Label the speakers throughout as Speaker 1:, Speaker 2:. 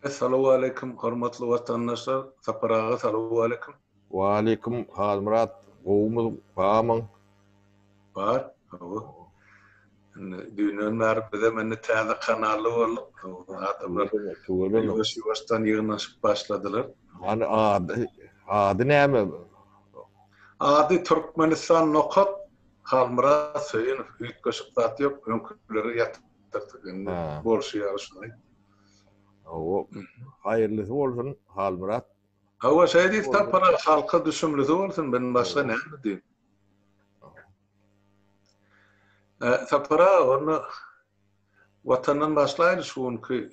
Speaker 1: Essalowaleýkim hormatly watandaşlar Sapar aga salowaleýkim. Waleýkim
Speaker 2: Halmyrat gowumyz bamyň.
Speaker 1: Bar gowy. Indi düýnden bäri bizem indi täze kanally bolduk. Adamlar ýuwaş ýuwaşdan ýygnaşyp başladylar. Hany ady
Speaker 2: ady näme bu?
Speaker 1: Ady Türkmenistan nokat Halmyrat Söýünow üýtgeşik zat ýok öňküleri ýatyr. Tapdyk indi. Bolşy ýaly
Speaker 2: şuny. Hawa. Haýyrlysy bolsun Halmyrat. Hawa şeý
Speaker 1: diýip tapara halka düşümlisi bolsun men başga näme diýim. Tapara onda watandan başlaýyly şu günki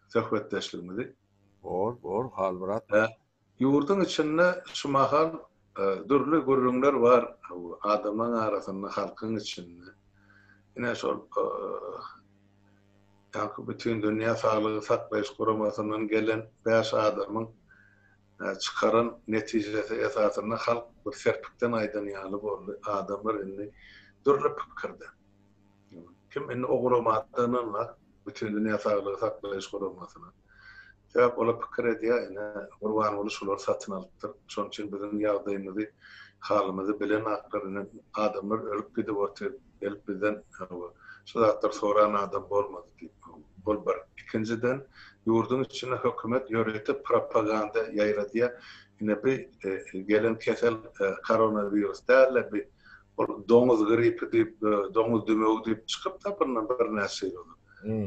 Speaker 1: söhbetdeşligimizi. Bor bor
Speaker 2: Halmyrat. Ýurduň
Speaker 1: içinde şu mahal dürli gürrüňler bar adamlaň arasynda halkyň içinde. Ine şol ýaňky Bütindünýä saglygy saklaýyş guramasyndan gelen bäş adamyň çykaran netijesi esasynda halk bir serpikden aýdan ýaly boldy. Adamlar indi dürli pikirde. Kim indi o guramadan bar, bütin dünýä saglygy saklaýyş guramasyna. Sebäp olar pikir edýär, ine, Gurbanguly şulary satyn alypdyr, şonuň üçin biziň ýagdaýymyzy, halymyzy bilenaklar, ine, adamlar ölüp gidip otyr, gelip bizden şu zatlary soran adam bolmady diýip, bul bir. Ikinjiden, ýurduň içinde hökümet ýörite propaganda ýaýradýar, ine, bi gelen kesel koronawirus däl-de, bi ol doňuz gripi diýip, doňuz dümewi diýip çykyp-da bundan birnäçe ýyl ozal.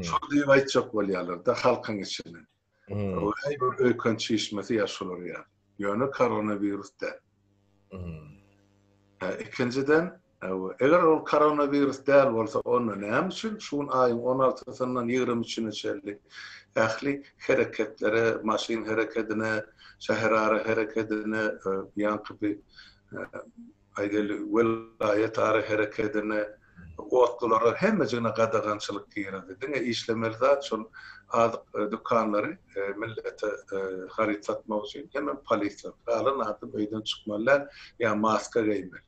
Speaker 1: Şol diýip aýtjak bolýarlar-da halkyň içinden. Häý, bir öýken çişmesi ýa şolar ýa. Ýöne koronawirus däl. Hä, ikinjiden, eger ol koronawirus däl bolsa, onda näme üçin şu gün aýyň on altysyndan ýigrimi üçüne çenli ähli hereketlere, maşyn herekedine, şäherara herekedine ýaňky bir Aýgeldi welaýatara herekedine, otlulara hemmejigine gadagançylyk girizdi. Diňe işlemeli zat şol azyk dükanlary millete haryt satmak üçin hemem polisiýa. Galan adam öýden çykmaly däl ýa maska geýmeli.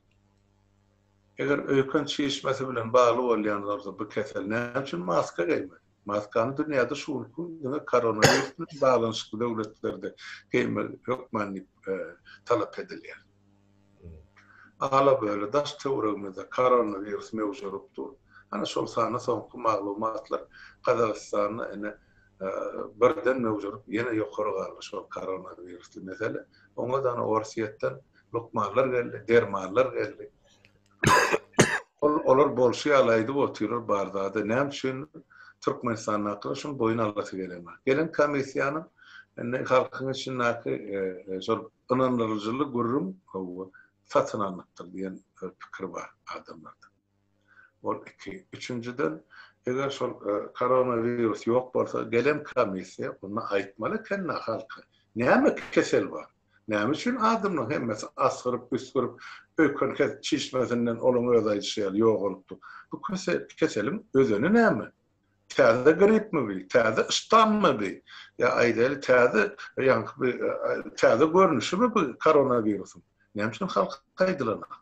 Speaker 1: Eger öýken çişmesi bilen bagly bolýan bolsa bu kesel näme üçin maska geýmeli? Maskany dünýäde şu günki diňe koronawirus bilen baglanyşykly döwletlerde geýmeli hökman diýip talap edilýär. Ala-böle daş-töweregimizde koronawirus möwjerup dur. Ana şol sanda soňky maglumatlar Gazagystanda ine birden möwjerup ýene ýokary galdy şol koronawirusly mesele. Oňa-da ine Orsýetden lukmanlar geldi, dermanlar geldi. Ol olar bolşy ýaly aýdyp otyrlar bar zady. Näme üçin Türkmenistandakylar şuny boýun alasy gelenok. Gelen komissiýanyň indi halkyň içindäki şol ynandyryjyly gürrüň satyn alnypdyr diýen pikir bar adamlarda. Ol iki. Üçünjiden eger şol koronawirus ýok bolsa gelen komissiýa onda aýtmaly ekeni halka näme kesel bar. Näme üçin adamlaryň hemmesi asgyryp-üsgürip, öýkenket çişmesinden olaň özi aýdyşy ýaly ýogalypdyr? Bu keseliň özeni näme? Täze gripmi bi? Täze ştammy bi? Ýa aýdaýly täze ýaňky bir täze görnüşimi bi koronawirusyň? Näme üçin halk aýdylanok?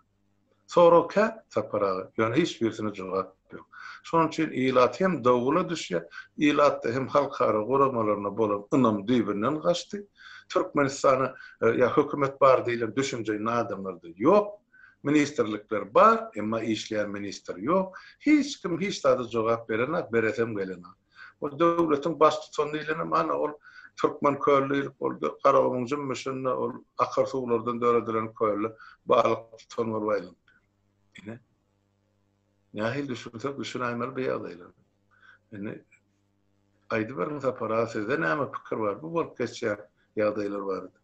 Speaker 1: Sorag kä, Sapar aga, ýöne hiç birisine jogap ýok. Şonuň üçin ilat hem dowgula düşýär, ilatda hem halkara guramalaryna bolan ynam düýbünden gaçdy. Türkmenistana ýa hökümet bar diýlen düşünje indi adamlarda ýok. Ministrlikler bar, emma işleýän ministr ýok. Hiç kim hiç zada jogap berenok, beresem gelenok. Ol döwletiň baştutany diýlenem, ana, ol Türkmen köli diýlip boldy. Garagumuň jümmüşinde ol akyr suwlardan döredilen kölde balyk tutan bolup aýlandy. Ine, nähili düşünsek düşünäýmeli bu ýagdaýlara. Indi aýdyberiň Sapar aga, sizde näme pikir bar bu bolup geçýän ýagdaýlar barada?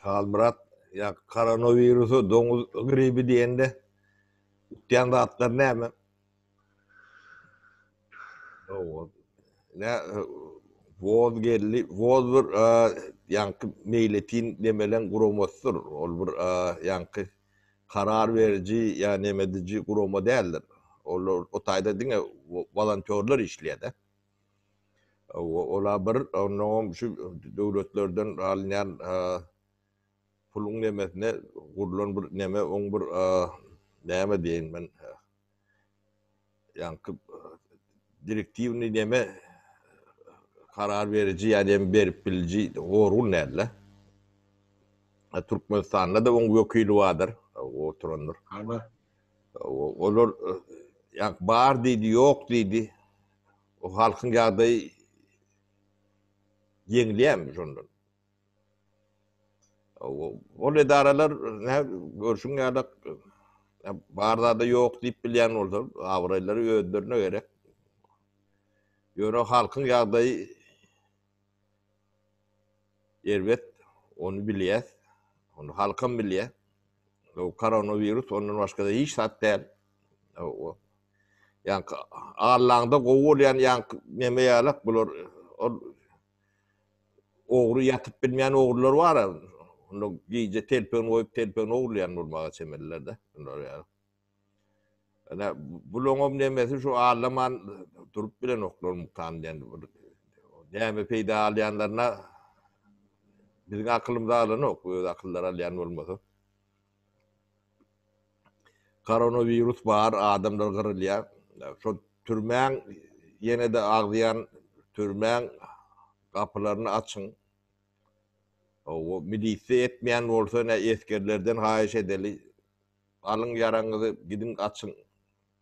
Speaker 1: Halmyrat,
Speaker 2: ýa koronawirusa doňuz gribi diýende utýan zatlar näme? Owaz. Ne Woz geldi. Woz bir ýaňky meýletin demelen guramasydyr. Ol bir ýaňky karar beriji ýa neme ediji gurama däldir. Olar o taýda diňe wolontýorlar işleýär-de. Owa, olar bir onnoňam şu döwletlerden alynýan puluň nemesine gurlan bir neme, oň bir näme diýeýin men, ýaňky direktiwny näme karar beriji ýa näme berip biliji Gorgun däldi. Türkmenistanda-da oň wekili bardyr, oturandyr.
Speaker 1: Habar.
Speaker 2: Olar ýaňky bar diýdi, ýok diýdi. O halkyň ýagdaýy ýeňilýärmi şondan? Ol edaralar nä görşüň ýaly bar zada ýok diýip bilýän bolsa, abraýlary özlerine gerek. Ýöne halkyň ýagdaýy erbet, ony bilýäs. Ony halkam bilýär. Bu koronawirus ondan başga-da hiç zat däl. Ýaňky allaňda gowy bolýan ýaňky neme ýalak bular ol ogry ýatyp bilmeýän ogrular bar-a, onda gije telpegini goýup, telpegini ogurlaýan bolmaga çemeliler-de. Şular ýaly. Ine, bulaňam nemesi şu allaman durup bilenoklar mukam diýen bir näme peýda alýanlaryna biziň akylymyza alanok, öz akyllary alýan bolmasa. Koronawirus bar adamlar gyrylýar. Şo türmäň ýene-de agzýan türmäň gapylaryny açyň. Hawa milisiýa etmeýän bolsa ne esgerlerden haýyş edeli. Alyň ýaraňyzy gidiň açyň.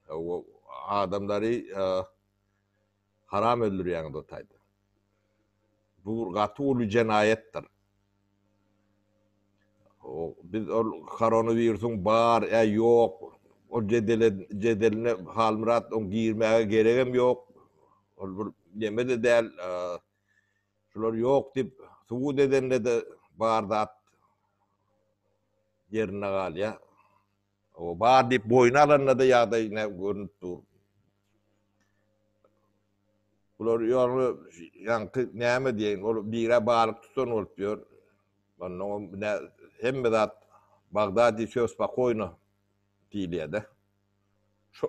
Speaker 2: Hawa adamlary Haram öldürýäňiz o taýda. Bu bir gaty uly jenaýatdyr. Biz ol koronawirusyň bar ýa ýok ol jedele jedeline Halmyrat oň girmäge geregem ýok. Ol bir neme-de däl. Şular ýok diýip subut edende-de bar zat ýerinde galýar. O bar diýip boýun alanda-da ýagdaý ne görünip dur. Bular ýoly ýaňky näme diýen, ol bire balyk tutan bolup ýör. Onnoň ne hemme zat Bagdadi söz spokoýno diýilýär-de. Şo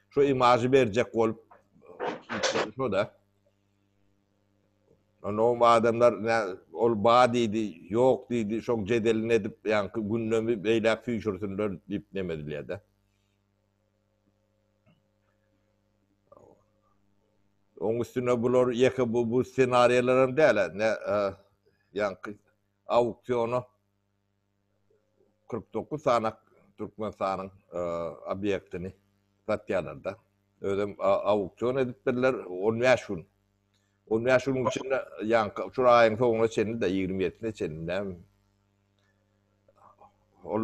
Speaker 2: şo imažy berjek bolup şo-da. Onda o adamlar ol bar diýdi, ýok diýdi, şoň jedelini edip, ýaňky gündemi beýläk süýşürsinler diýip neme edilýär-de. Oň üstüne bular ýeke bu, bu ssenariýalar hem däl-ä, ne ýaňky auktiona kyrk dokuz sany Türkmenistanyň obýektini satýarlar-da. Özem auksion edip berler on bäş gün. On bäş günüň içinde, ýaňky şu aýyň soňuna çenli-de, ýigrimi ýedisine çenli, näme. Ol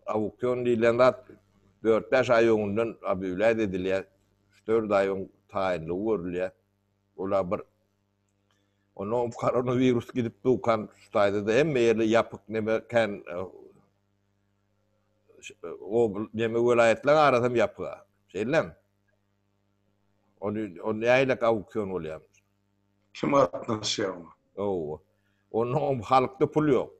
Speaker 2: auksion diýlen zat dört-bäş aý öňünden obýawlýaýt edilýär, üç-dört aý öň taýynlygy görülýär. Olar bir Onda koronawirus gidip dukan şutaýda-da hemme ýerde ýapyk neme kän obl neme welaýatlaryň arasy hem ýapyk. Şeýlem. Ony on näýlek auksion bolýar. Kim
Speaker 1: gatnaşýar oňa? Ow. Onda
Speaker 2: halkda pul ýok.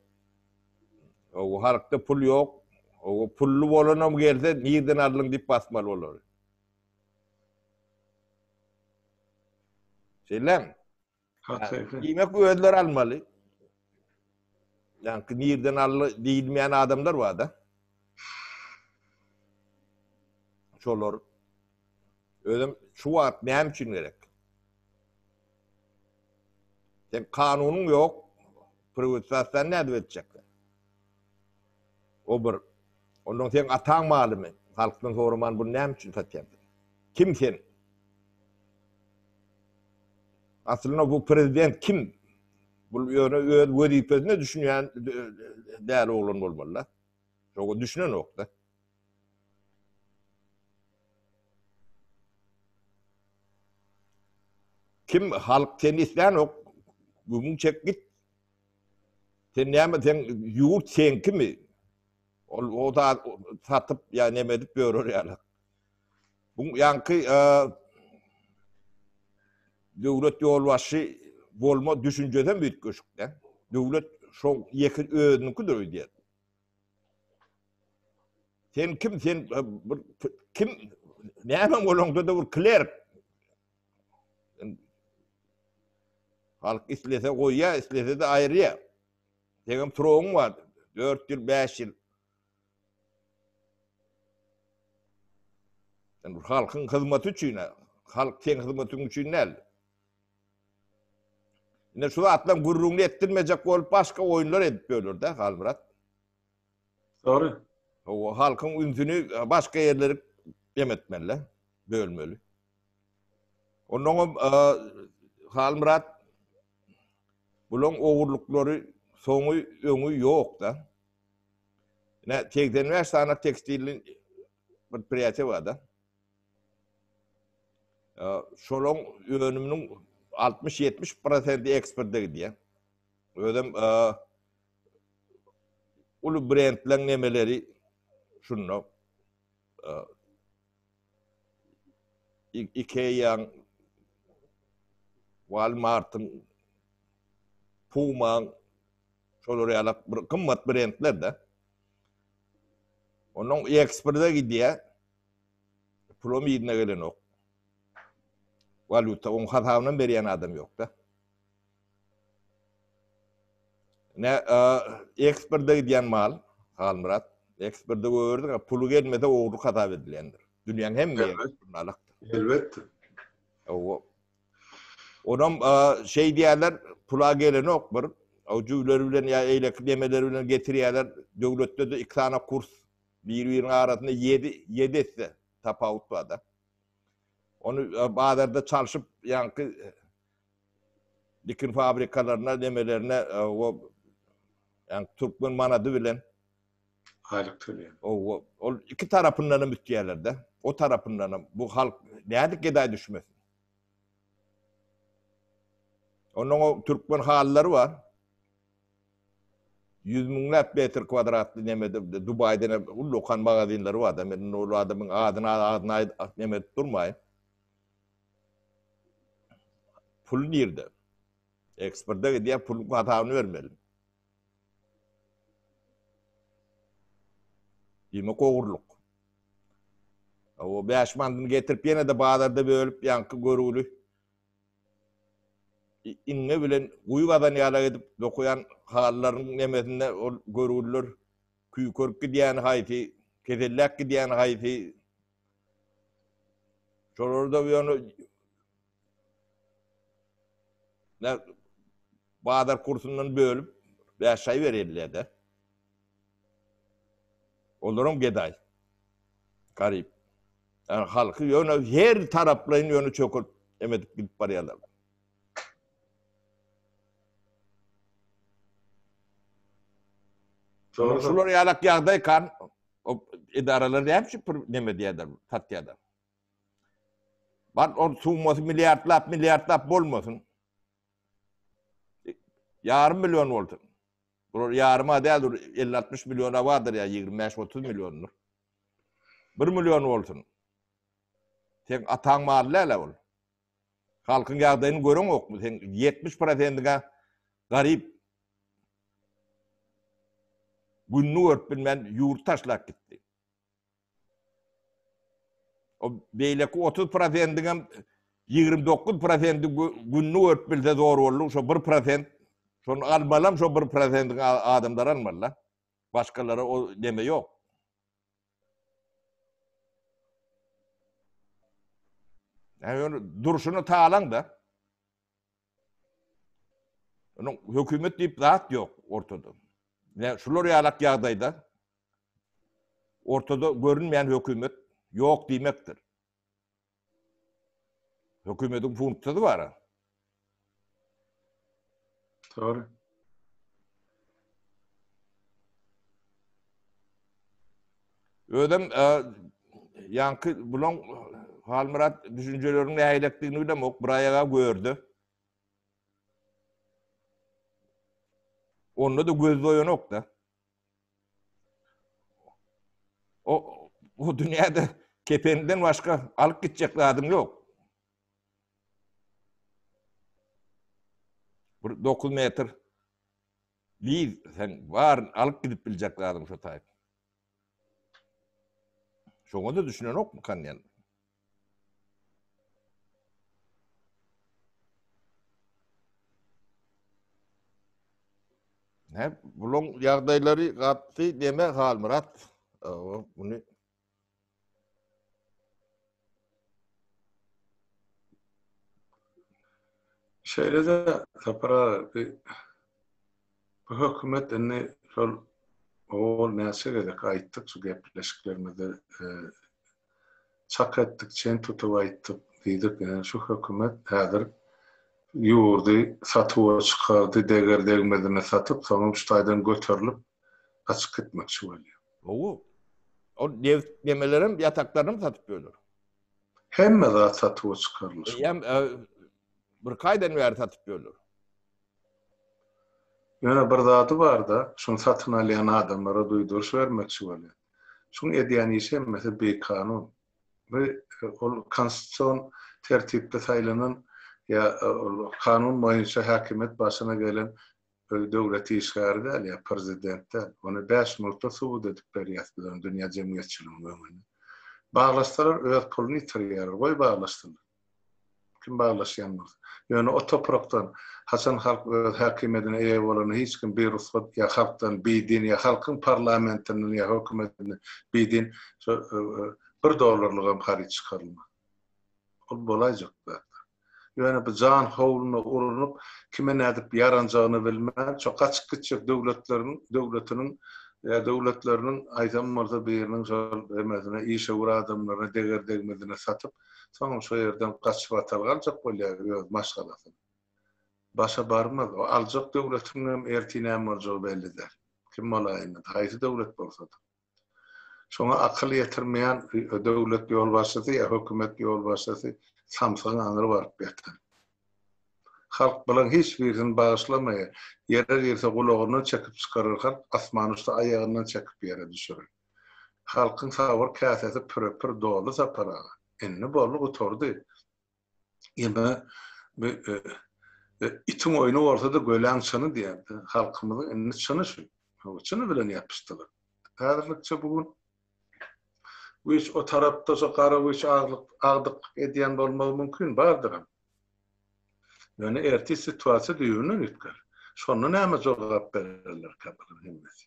Speaker 2: Ow halkda pul ýok. Ow pully bolanam gelse nirden aldyň diýip basmaly bolar. Şeýlem. Diýmek özleri almaly. Ýa-da nirden aldy diýilmeýän adamlar bar-da. Şolar özüm şu wagt näme üçin gerek? Sen kanunyň ýok. Priwitzasyýany nädip etjekler? O bir. Ondan seň ataň malymy? Halkdan soraman buny näme üçin satýan sen? Kim sen? Aslynda bu prezident kim? Bul ýöne öz wezipesine düşünýän däli oglan bolmaly-da. Şoňa düşünenok-da. Kim halk seni islänok gümüň çek git. Sen näme sen ýurt seňkimi? Ol o da satyp ýa näme edip ýörer ýaly. Bu ýaňky döwlet ýolbaşçy bolma düşünjesem üýtgeşik-de. Döwlet şo ýeke özüniňkidir öýdýär. Sen kim sen e, bir kim näme bolanda da bir klerk. Halk islese goýýar, islese de aýyrýar. Senem turugyň bar. 4 ýyl, 5 ýyl. Sen halkyň hyzmaty üçin, halk seň hyzmatyň üçin näl? Ine şu zatlaryň gürrüňini etdirmejek bolup başga oýunlar edip ýörler-dä Halmyrat.
Speaker 1: Dogry. O
Speaker 2: halkyň ünsüni başga ýerlere jem etmeli, bölmeli. Ondan hem Halmyrat bularyň ogurlyklary soňy öňi ýok-da. Ine 85 sany tekstilli bir priýatiwa-da. Şolaň önüminiň altmyş ýetmiş prosenti eksporta gidýär. Özem uly brendleň nemeleri şunda. Ikea-nyň, Walmart-yň, Puma-nyň şolar ýaly bir gymmat brendler-de. Onuň eksporta gidýär. Pulum yzyna gelenok. Walýuta oň hasabynam berýän adam ýokda. Ne eksporta gidýän mal, Halmyrat, eksporta goýberdik, a puly gelmese ogurlyk hasap edilýändir. Dünýäň hemme ýerinde. Elbetde.
Speaker 1: Owa.
Speaker 2: Onam şeý diýýärler, pula gelenok bir, o jüwleri bilen ýa eýleki demeleri bilen getirýärler, döwletde-de iki sany kurs Bir biriniň arasynda ýedi ýedi esse tapawut barda. Ony bazarda çalşyp ýaňky dikin fabrikalaryna nemelerine o ýaňky türkmen manady bilen aýlyk
Speaker 1: töleýär. O ol iki
Speaker 2: tarapyndan hem üýtýärlerde. O tarapyndan hem bu halk nädip gedaý düşmesin. Onuň o türkmen hallary bar. Ýüz müňläp metr kwadratly neme Dubaýda uly okan magazinleri barda. Men indi ol adamyň adyny agzyna neme edip durmaýyn. Pul nirde? Eksporta gidýär, puluň hasabyny bermeli. Diýmek ogurlyk. O bäş manyny getirip ýene-de bazarda bölüp ýaňky görgüli iňňe bilen guýy gazan ýala edip dokaýan halylarynyň nemesinde ol görgüliler küýkerip gidýäni haýsy, keselläp gidýäni haýsy, şolarda ýöne bazar kursundan bölüp bäş çaý berýärler-de. Olaram gedaý. Garyp. Ýagny halky ýöne her taraplaýyn ýöne çökürt emedip gidip barýarlar. Şolar şular ýalak ýagdaý kan edaralar näme üçin pul neme diýýärler, satýarlar. Bar ol summasy milliardlap, milliardlap bolmasyn. Ýarym million bolsun. Bular ýaryma däl dur, elli-altmyş milliona bardyr ýa ýigrimi bäş-otuz milliondyr. Bir million bolsun. Seň ataň maly däl-ä ol. Halkyň ýagdaýyny göreňokmy? Seň ýetmiş prosendiň-ä garyp. Gününi görüp bilmän ýurt taşlap gitdi. O beýleki otuz prosendiňem ýigrimi dokuz prosenti gününi görüp bilse zor boldy. Şo bir prosent, şony almalam şo bir prosentiň adamlary almaly-da. Başgalara o neme ýok. Yani durşuna talan da. Onuň hökümet diýip zat ýok ortada. Ýa şular ýalak ýagdaýda ortada görünmeýän hökümet ýok diýmekdir. Hökümetiň funksiýasy bar-a.
Speaker 1: Dogry.
Speaker 2: Özem ýaňky bulaň Halmyrat düşünjeleriň nähilekdigini bilem ok bir aýaga gördi. Onda da göz doýanok da. O bu dünýäde kependen başga alyp gitjek zadyň ýok. Bir dokuz metr liz sen baryny alyp gidip biljek zadyň şo taýt. Şoňa-da düşünenokmy kanýan? Näp, bulaň ýagdaýlary gatdy deme Halmyrat. Awa, muny
Speaker 1: Şeýle-de Sapar aga, bi bu hökümet indi şol owal näçe gezek aýtdyk şu gepleşiklerimizde çak etdik, çen tutup aýtdyk, diýdik, ýa şu hökümet häzir ýurdy satuwa çykardy, deger-degmezine satyp, soňam şu taýdan göterilip, gaçyp gitmekçi bolýar. Gowy.
Speaker 2: Ol neft gemelerem, ýataklaram satyp ýörler. Hemme
Speaker 1: zat satuwa çykarylyşy. Eýýäm
Speaker 2: birki aýdan bäri satyp ýörler.
Speaker 1: Ýöne bir zady bar-da, şuny satyn alýan adamlara duýduryş bermekçi bolýan. Şuň edýän işi hemmesi bikanun. Bu ol konstitusion tertipde saýlanan ýa ol kanun boýunça häkimiýet başyna gelen Özi döwlet işgäri däl ýa prezident däl. Ony bäş minutda subut edip berýäs biz ony dünýä jemgyýetçiliginiň öňünde. Baglaşsalar öz puluny ýitirýärler. Goý baglaşsynlar. Kim baglaşýan bolsa. Ýöne o toprakdan haçan halk öz häkimiýedine eýe bolanda hiç kim birugsat ýa halkdan bidin ýa halkyň parlamentinden ýa hökümetinden bidin şo bir dollarlygam haryt çykarylmaz. Ol bolaýjak zatlar. Ýöne bu jan howluna urnup, kime nädip ýaranjagyny bilmän, şo gaçyp gitjek döwletleriniň, döwletiniň, ýa döwletleriniň, aýdan bolsa biriniň şol emesine, işewür adamlaryna deger-degmezine satyp, soňam şo ýerden gaçyp atal galjak bolýar öz maşgalasyny. Başa barmaz. O aljak döwletiňem ertir näme boljagy belli däl. Kim bolaýunda-da, haýsy döwlet bolsa-da. Şoňa akyl ýetirmeýän döwlet ýolbaşçysy ýa hökümet ýolbaşçysy samsygyň aňry baryp ýatar. Halk bulaň hiç birisini bagyşlamaýar. Ýere girse gulagyndan çekip çykarar halk, asman uçsa aýagyndan çekip ýere düşürer. Halkyň sabyr käsesi püre-pür doldy Sapar aga. Indi boldy gutardy. Ýa-da bir itiň oýny bolsa-da göläň çyny diýerdi. Halkymyzyň indi çyny şu. Çyny bilen ýapyşdylar. Häzirlikçe bu gün güýç o tarapda, şo gara güýç agdyklyk edýän bolmagy mümkin, bardyram. Ýöne ertir situasiýa düýbünden üýtger. Şonda näme jogap bererlerkä bular hemmesi?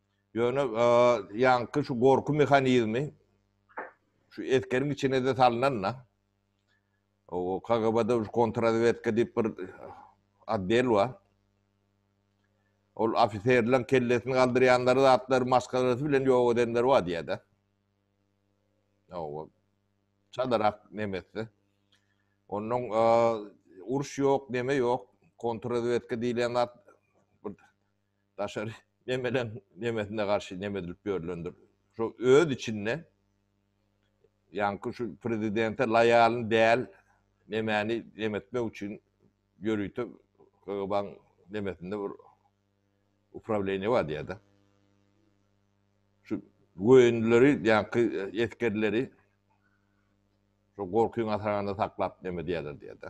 Speaker 2: Ýöne ýaňky şu gorky mehanizmi şu eskeriň içine-de salnan-da. O KGB-de şu kontrrazwedka diýip bir otdel bar. Ol ofiserleriň kellesini galdyrýanlary zatlar maskalarysy bilen ýok edenleri bar diýýär-de. Hawa. Çalarak nemesi. Onuň uruş ýok, neme ýok. Kontrrazwedka diýlen zat Daşary nemeleň nemesine garşy neme edilip ýörlendir. Şo öz içinde ýaňky şu prezidente laýalyn däl nemäni neme etmek üçin ýörite KGB-nyň nemesinde bir uprawleniýe bar diýýär-de. Şu göýünleri ýaňky esgerleri şo gorkyň asaranda saklap neme edýärler diýýär-de.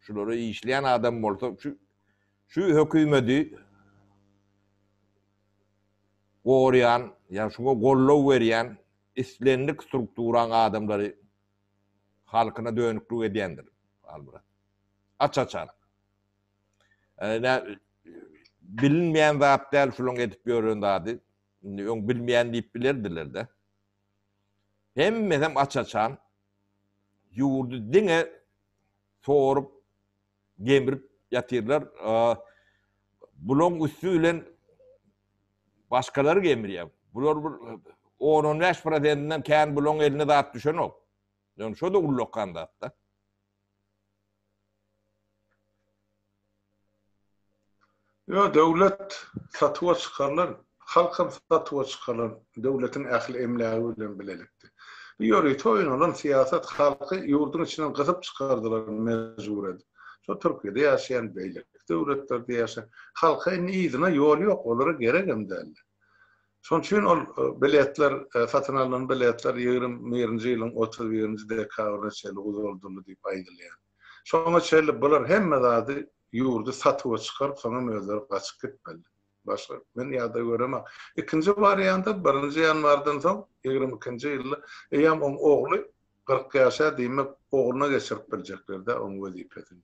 Speaker 2: Şulara işleýän adam bolsa şu şu hökümedi gorýan ýa şuňa gollow berýän islendik strukturaň adamlary halkyna dönüklik edýändir Halmyrat. Aç açan. Ene bilinmeýän zat däl şulaň edip ýören zady. Indi öň bilmeýän diýip bilerdiler-de. Hemmesem aç açan Ýurdy diňe sorup, gemrip ýatyrlar. Bulaň üsti bilen başgalary gemrýär. Bular bir on-on bäş prosentinden kän bulaň eline zat düşenok. Ýöne şo-da ullakan zat-da.
Speaker 1: Ýo döwlet satuwa çykarylan, halkam satuwa çykarylan döwletiň ähli emlägi bilen bilelikde. Bu ýörite oýnalan syýasat halky ýurduň içinden gysyp çykardylar mejbur edip. Şo Türkiýede ýaşaýan beýleki döwletlerde ýaşaýan halka indi yzyna ýol ýok olara geregem däldi. Şol üçin ol biletler, satyn alnan biletler ýigrimi birinji ýylyň otuz birinji dekabryna çenli uzaldyldy diýip aýdylýar. Şoňa çenli bular hemme zady, ýurdy satuwa çykaryp, soňam özleri gaçyp gitmeli. Başga men ýagdaý göremek. Ikinji warianta, birinji ýanwardan soň, ýigrimi ikinji ýylda eýýäm oň ogly Kyrk ýaşa diýmek, ogluna geçirip biljekler-dä oň wezipesini.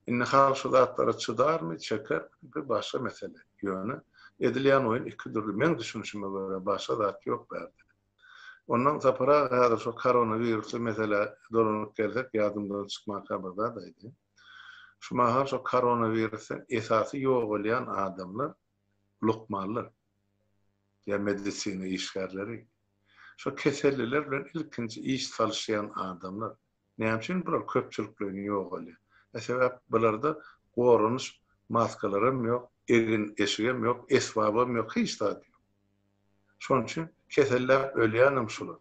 Speaker 1: Indi halk şu zatlara çydarmy, çekermi, bir başga mesele. Ýöne, edilýän oýun iki dürli, meň düşünişime görä, başga zat ýok bärde. Onnoň Sapar aga häzir şo koronawirusly meselä dolanyp gelsek, ýadymdan çykmanka bir zat aýdaýyn. Şu mahal şo koronawirusdan esasy ýogalýan adamlar lukmanlar ýa medisina işgärleri, şo keselliler bilen ilkinji iş salyşýan adamlar, näme üçin bular köpçülikleýin ýogalýar? E sebäp bularda goranyş maskalaram ýok, egin-eşigem ýok, esbabam ýok, hiç zat ýok. Şonuň üçin keselläp ölýänem şular.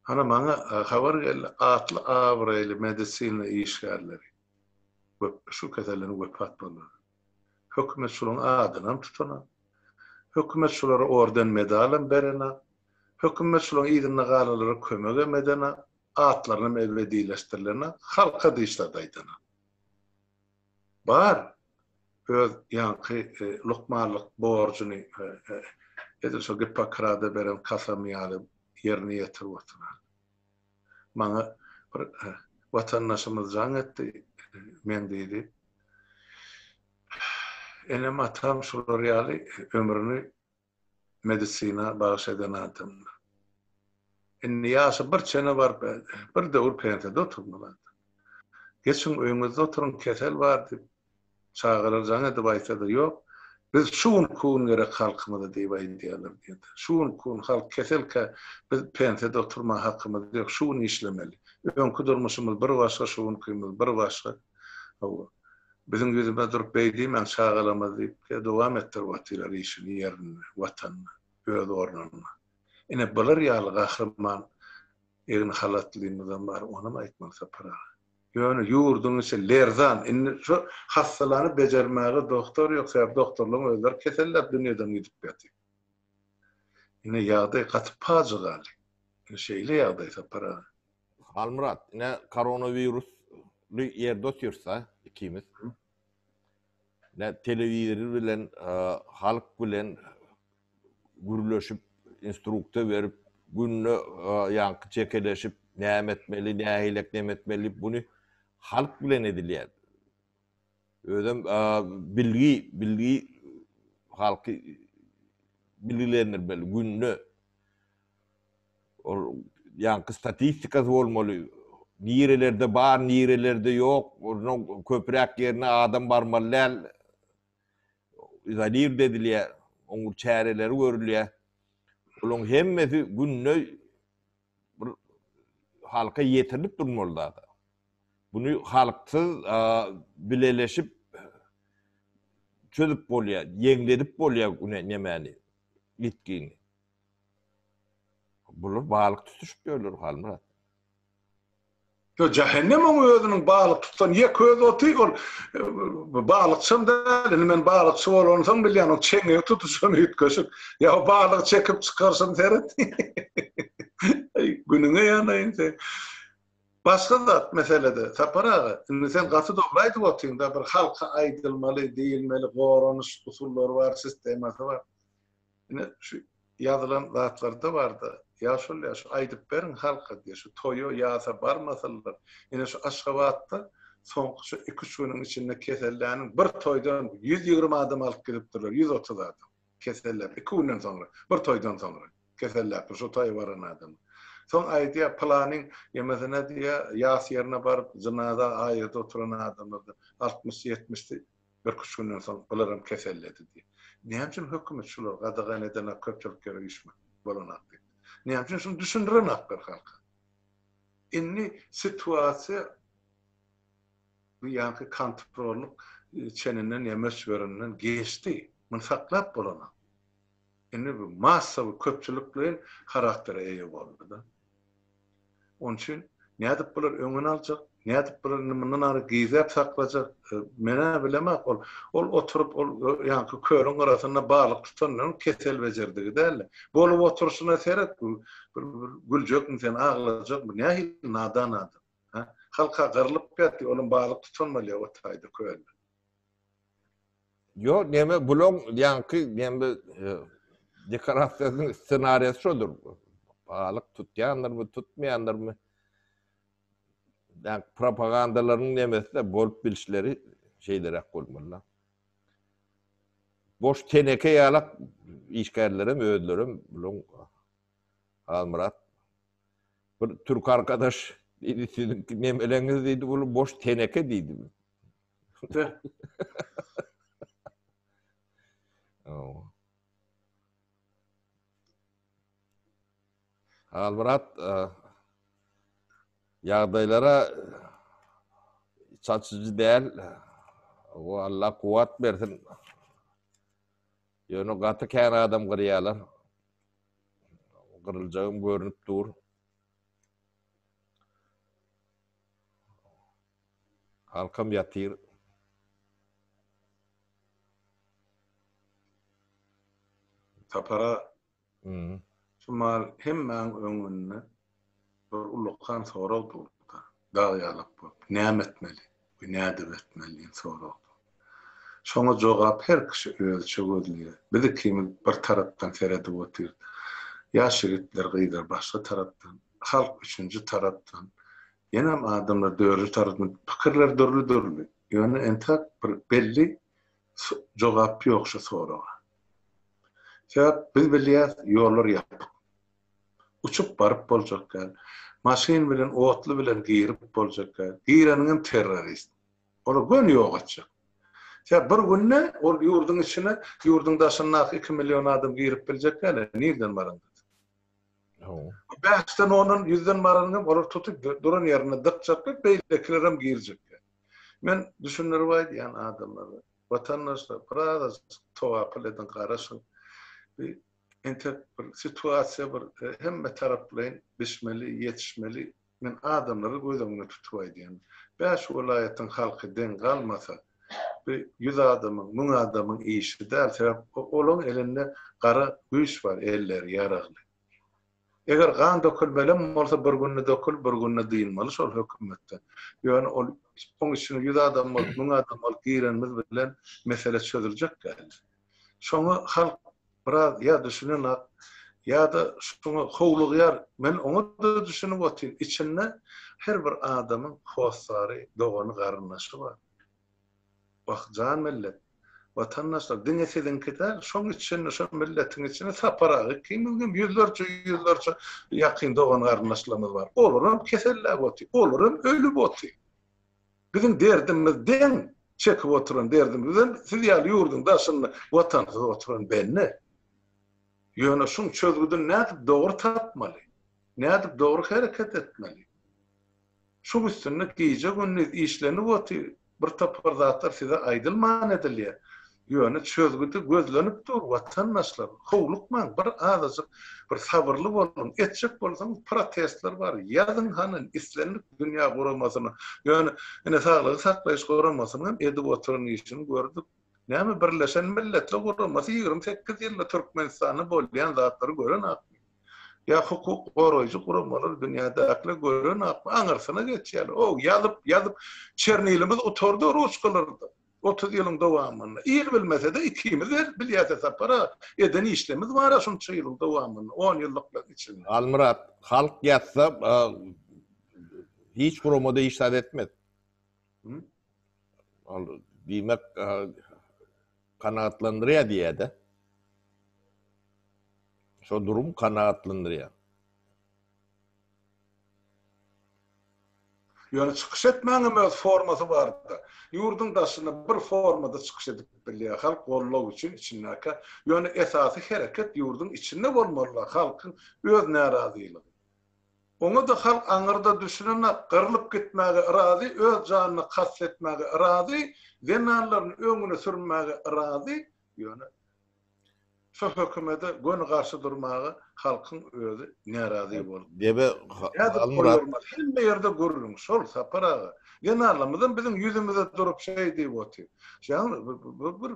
Speaker 1: Hany maňa habar geldi, atly-abraýly medisina işgärleri köpler şu keselden wepat bolýar. Hökümet şulaň adynam tutana. Hökümet şulara orden medalam berena. Hökümet şulaň yzynda galalara kömegem edena. Atlarynam ebedileşdirilena. Halka dyşlarda aýdana. Bar öz ýaňky lukmanlyk borjuny edil şo Gippokrada beren kasamyýaly ýerine ýetirip oturan. Maňa bir watandaşymyz jaň etdi, men diýdi, enem-atam şular ýaly ömrüni medisina bagyş eden adamlar. Indi ýaşy bir çene baryp, bir döwür pensiýada oturmaly adam. Geçiň öýüňizde oturyň, kesel bar diýip, Çagalar jaň edip aýtsa-da, Ýok, biz şu günki gün gerek halkymyza diýip aýdýarlar diýdi. Şu günki gün halk keselkä, biz pensiýada oturmaga hakymyz ýok, şu gün işlemeli. Öňki durmuşymyz bir başga, şu günkimiz bir başga. Hawa, biziň ýüzümize durup beý diýmäň, çagalarymyz diýip-de dowam etdirip otyrlar işini ýerinde, Watanynda, öz ornunda. Ine, bular ýaly gahryman egin halatlymyzam bar, onam aýtmaly Sapar aga. Ýöne ýurduň içi lerzan. Indi şu hassalany bejermäge doktor ýok, sebäbi doktorlaryň özleri keselläp dünýeden gidip ýatyr. Ine ýagdaý gaty pajygaly. Ine şeýle ýagdaý Sapar aga. Halmyrat,
Speaker 2: ine koronawirus ly ýerde otyrysda ikimiz. Ine telewizor bilen, halk bilen gürleşip, instrukta berip, günde ýaňky çekeleşip, näme etmeli, nähilek näme etmeli diýip, buny halk bilen edilýär. Özem bilgi, bilgi halky bilgilendirmeli, günde ol ýaňky statistikasy bolmaly, nirelerde bar, nirelerde ýok, köpräk ýerine adam barmaly däl, izolirde edilýär, oňa çäreleri görülýär. Olaryň hemmesi günde bir halka ýetirilip durmaly zat. Buny halksyz bileleşip çözüp bolýar, ýeňledip bolýar güne nemäni, ýitgini. Bular balyk tutuşyp ýörler Halmyrat.
Speaker 1: Ýo jahennem oň özüniň balyk tutan ýek öz oty ol balykçam däl indi men balykçy bolansoň bilýän ol çeňňegi tutuşan üýtgeşik ýa balygy çekip çykaryşyny seret eý günüňe ýanaýyn seň. Başga zat meselede Sapar aga indi sen gaty dogry aýdyp otyňda bir halka aýdylmaly diýilmeli goranyş usullary bar sistemasy bar. Ine, şu ýazylan zatlarda bar-da, ýa şol ýa şu aýdyp beriň halka diýýär. Şu toýa, ýasa barmasalar, ine şu Aşgabatda soňky şu iki-üç günüň içinde keselläniň bir toýdan ýüz ýigrimi adam alyp gidipdirler, ýüz otuz adam. Keselläp, iki günden soňra, bir toýdan soňra keselläpdir şo toýa baran adamy. Soň aýdýar, pylanyň ýemesine diýýär, ýas ýerine baryp, jynaza aýyrda oturan adamlardan altmyş-ýetmişdi, Birküç günden soň olaram keselledi diýip. Näme üçin hökümet şulary gadagan edenok, köpçülik ýere üýşmek bolanok diýip. Näme üçin şuny düşündirenoklar halka. Indi situasiýa bu ýanky kontrollyk çeninden ýa möçberinden geçdi. Muny saklap bolanok. Indi bu massawy köpçülikleýin haraktere eýe boldy-da. Onuň üçin nädip bular öňüni aljak, nädip bular indi mundan ara gizläp saklajak? Men-ä bilemok. Ol, ol oturyp, ol ýaňky kölüň gyrasynda balyk tutanlaryň kesel bejerdigi däldi. Bolup oturyşyna seret, bu bir güljekmi sen, aglajakmy? Nähili nadan adam? Hä? Halk-a gyrylyp ýatdy, olam balyk tutanmalyýa otaýda kölde.
Speaker 2: Yo, näme bulan ýaňky näme dekorasiýasynyň ssenariýasy şodur. Balyk tutýandyrmy, tutmaýandyrmy? Näme propagandalaryň näme-de bolup bilişleri şeýleräk bolmaly. Boş teneke ýaly işgärlerem özlerem bulan Halmyrat bir türk arkadaş diýdi, siziň näme-leňiz diýdi, bul boş teneke diýdi. Halmyrat ýagdaýlara çaçyjy däl. O Allah kuwat bersin. Ýöne gaty kän adam gyrýarlar. Gyryljagym görünip dur. Halkam ýatyr.
Speaker 1: Sapara şu mal hemmäň öňünde bir ullakan sorag durupdyr. Dag ýalak bolup, näme etmeli we nädip etmeli diýen sorag dur. Şoňa jogap her kişi özüçe gözleýär. Biz ikimiz bir tarapdan seredip otyrys. Ýaş ýigitler, gyzlar başga tarapdan. Halk üçünji tarapdan. Ýenem adamlar dörli tarapdan pikirler dürli dürli. Ýöne entäk bir belli jogap ýok şu soraga. Sebäp biz bilýäs ýollar ýapyk. Uçup baryp boljak däl. Maşyn bilen otly bilen girip boljak däl. Gireniňem terrorist. Olar göni ýok etjek. Sebäp bir günde ol ýurduň içine ýurduň daşyndaky iki million adam girip biljek däl. Nirden baran? Bu bäşden ondan ýüzden baranyňam olar tutup duran ýerinde dykjakly beýlekilerem girjekkä. Men düşündirip aýdýan adamlara, watandaşlar birazajyk towakul ediň garaşyň. Bu entek bir situasiýa bir hemme taraplaýyn bişmeli, ýetişmeli Men adamlary göz öňünde tutup aýdýan. Bäş welaýatyň halky deň galmasa, bu ýüz adamyň, müň adamyň işi däl. Sebäp olaň elinde gara güýç bar, elleri ýaragly. Eger gan dökülmelem bolsa bir günde dökülip, bir günde dynmaly şol hökümetde. Ýöne ol oň içine ýüz adam bolup, müň adam bolup girenimiz bilen mesele çözüljek däl. Şoňa halk biraz ýa düşünenak, ýa-da şoňa howlugýar. Men oňa-da düşünip otyryn. Içinde her bir adamyň hossary, dogany, garyndaşy bar. Wah, jan millet, watandaşlar, diňe siziňki däl, şoň içinde, şo milletiň içinde Sapar aga ikimiziň hem ýüzlerçe, ýüzlerçe ýakyn dogan-garyndaşlarymyz bar. Olar hem keselläp otyr, olar hem ölüp otyr. Biziň derdimiz deň çekip oturan derdimizem siz ýaly ýurduň daşynda watansyz oturan bende. Ýöne şuň çözgüdini nädip dogry tapmaly? Nädip dogry hereket etmeli? Şuň üstünde gije-gündiz işlenip otyr, bir topar zatlar size aýdylman edilýär. Ýöne çözgüdi gözlenip dur watandaşlar, howlukmaň, bir azajyk bir sabyrly boluň, etjek bolsaňyz protestler bar, ýazyň hany islendik dünýä guramasyna, ýöne ine saglygy saklaýyş guramasynyň hem edip oturan işini gördük, näme birleşen milletler guramasy ýigrimi sekiz ýylda Türkmenistanda bolýan zatlary görenakmy, ýa hukuk goraýjy guramalary dünýädäkiler görenakmy, aňyrsyna geçýärler, o ýazyp ýazyp çernilimiz gutardy ruçkalarda. Otuz ýylyň dowamynda, il bilmese-de, ikimiz her bilýäs Sapar-a, eden işlerimiz bar-a şunça ýylyň dowamynda, on ýyllyklaryň içinde. Halmyrat, halk
Speaker 2: ýatsa, hiç gurama-da iş zat etmez. Ol, diýmek, kanagatlandyrýar diýýär-dä. Şo durum kanagatlandyrýar.
Speaker 1: Ýöne çykyş etmegiň hem öz formasy bardyr. Ýurduň daşynda bir formada çykyş edip bilýär, halk gollag üçin içindäkä. Ýöne esasy hereket ýurduň içinde bolmalydyr, halkyň öz närazylygy. Oňa-da halk aňyrda düşünenok, gyrlyp gitmäge yrazy, öz janyna kast etmäge yrazy, zenanlaryny öňüne sürmäge yrazy, ýöne. Şu hökümede göni garşy durmaga halkyň özi närazy boldy. Debe
Speaker 2: Halmyrat.
Speaker 1: Hemme
Speaker 2: ýerde
Speaker 1: gürrüň şol Sapar aga. Zenanlarymyzam biziň ýüzümize durup şeý diýip otyr. Şaň bir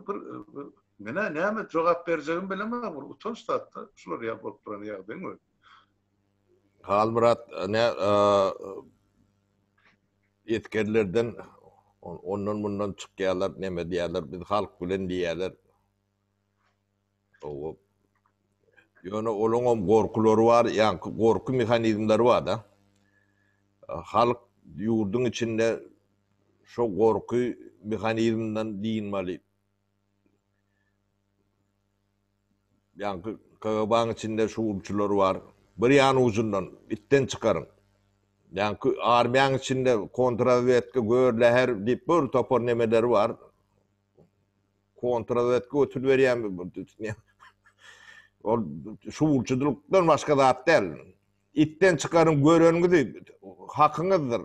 Speaker 1: bir menä näme jogap berjegimi bilemok bir utanç zatda şular ýaly bolup duran ýagdaýyň özi.
Speaker 2: Halmyrat nä esgerlerden ondan mundan çykýarlar neme diýýärler biz halk bilen diýýärler. Owo. Ýöne olaňam gorkulary bar, ýaňky gorky mehanizmleri bar-da. Halk ýurduň içinde şo gorky mehanizminden dynmaly. Ýaňky KGB-nyň içinde şuwwulçylar bar. Bir ýan ujundan itden çykaryň. Ýaňky armiýanyň içinde kontrrazwedka, gör, läher diýip bir topar nemeleri bar. Kontrazwedka götür berýän bir bir düsnýä. Ol şuwçudylykdan başga zat däl. Itden çykaryň göreniňizi hakyňyzdyr.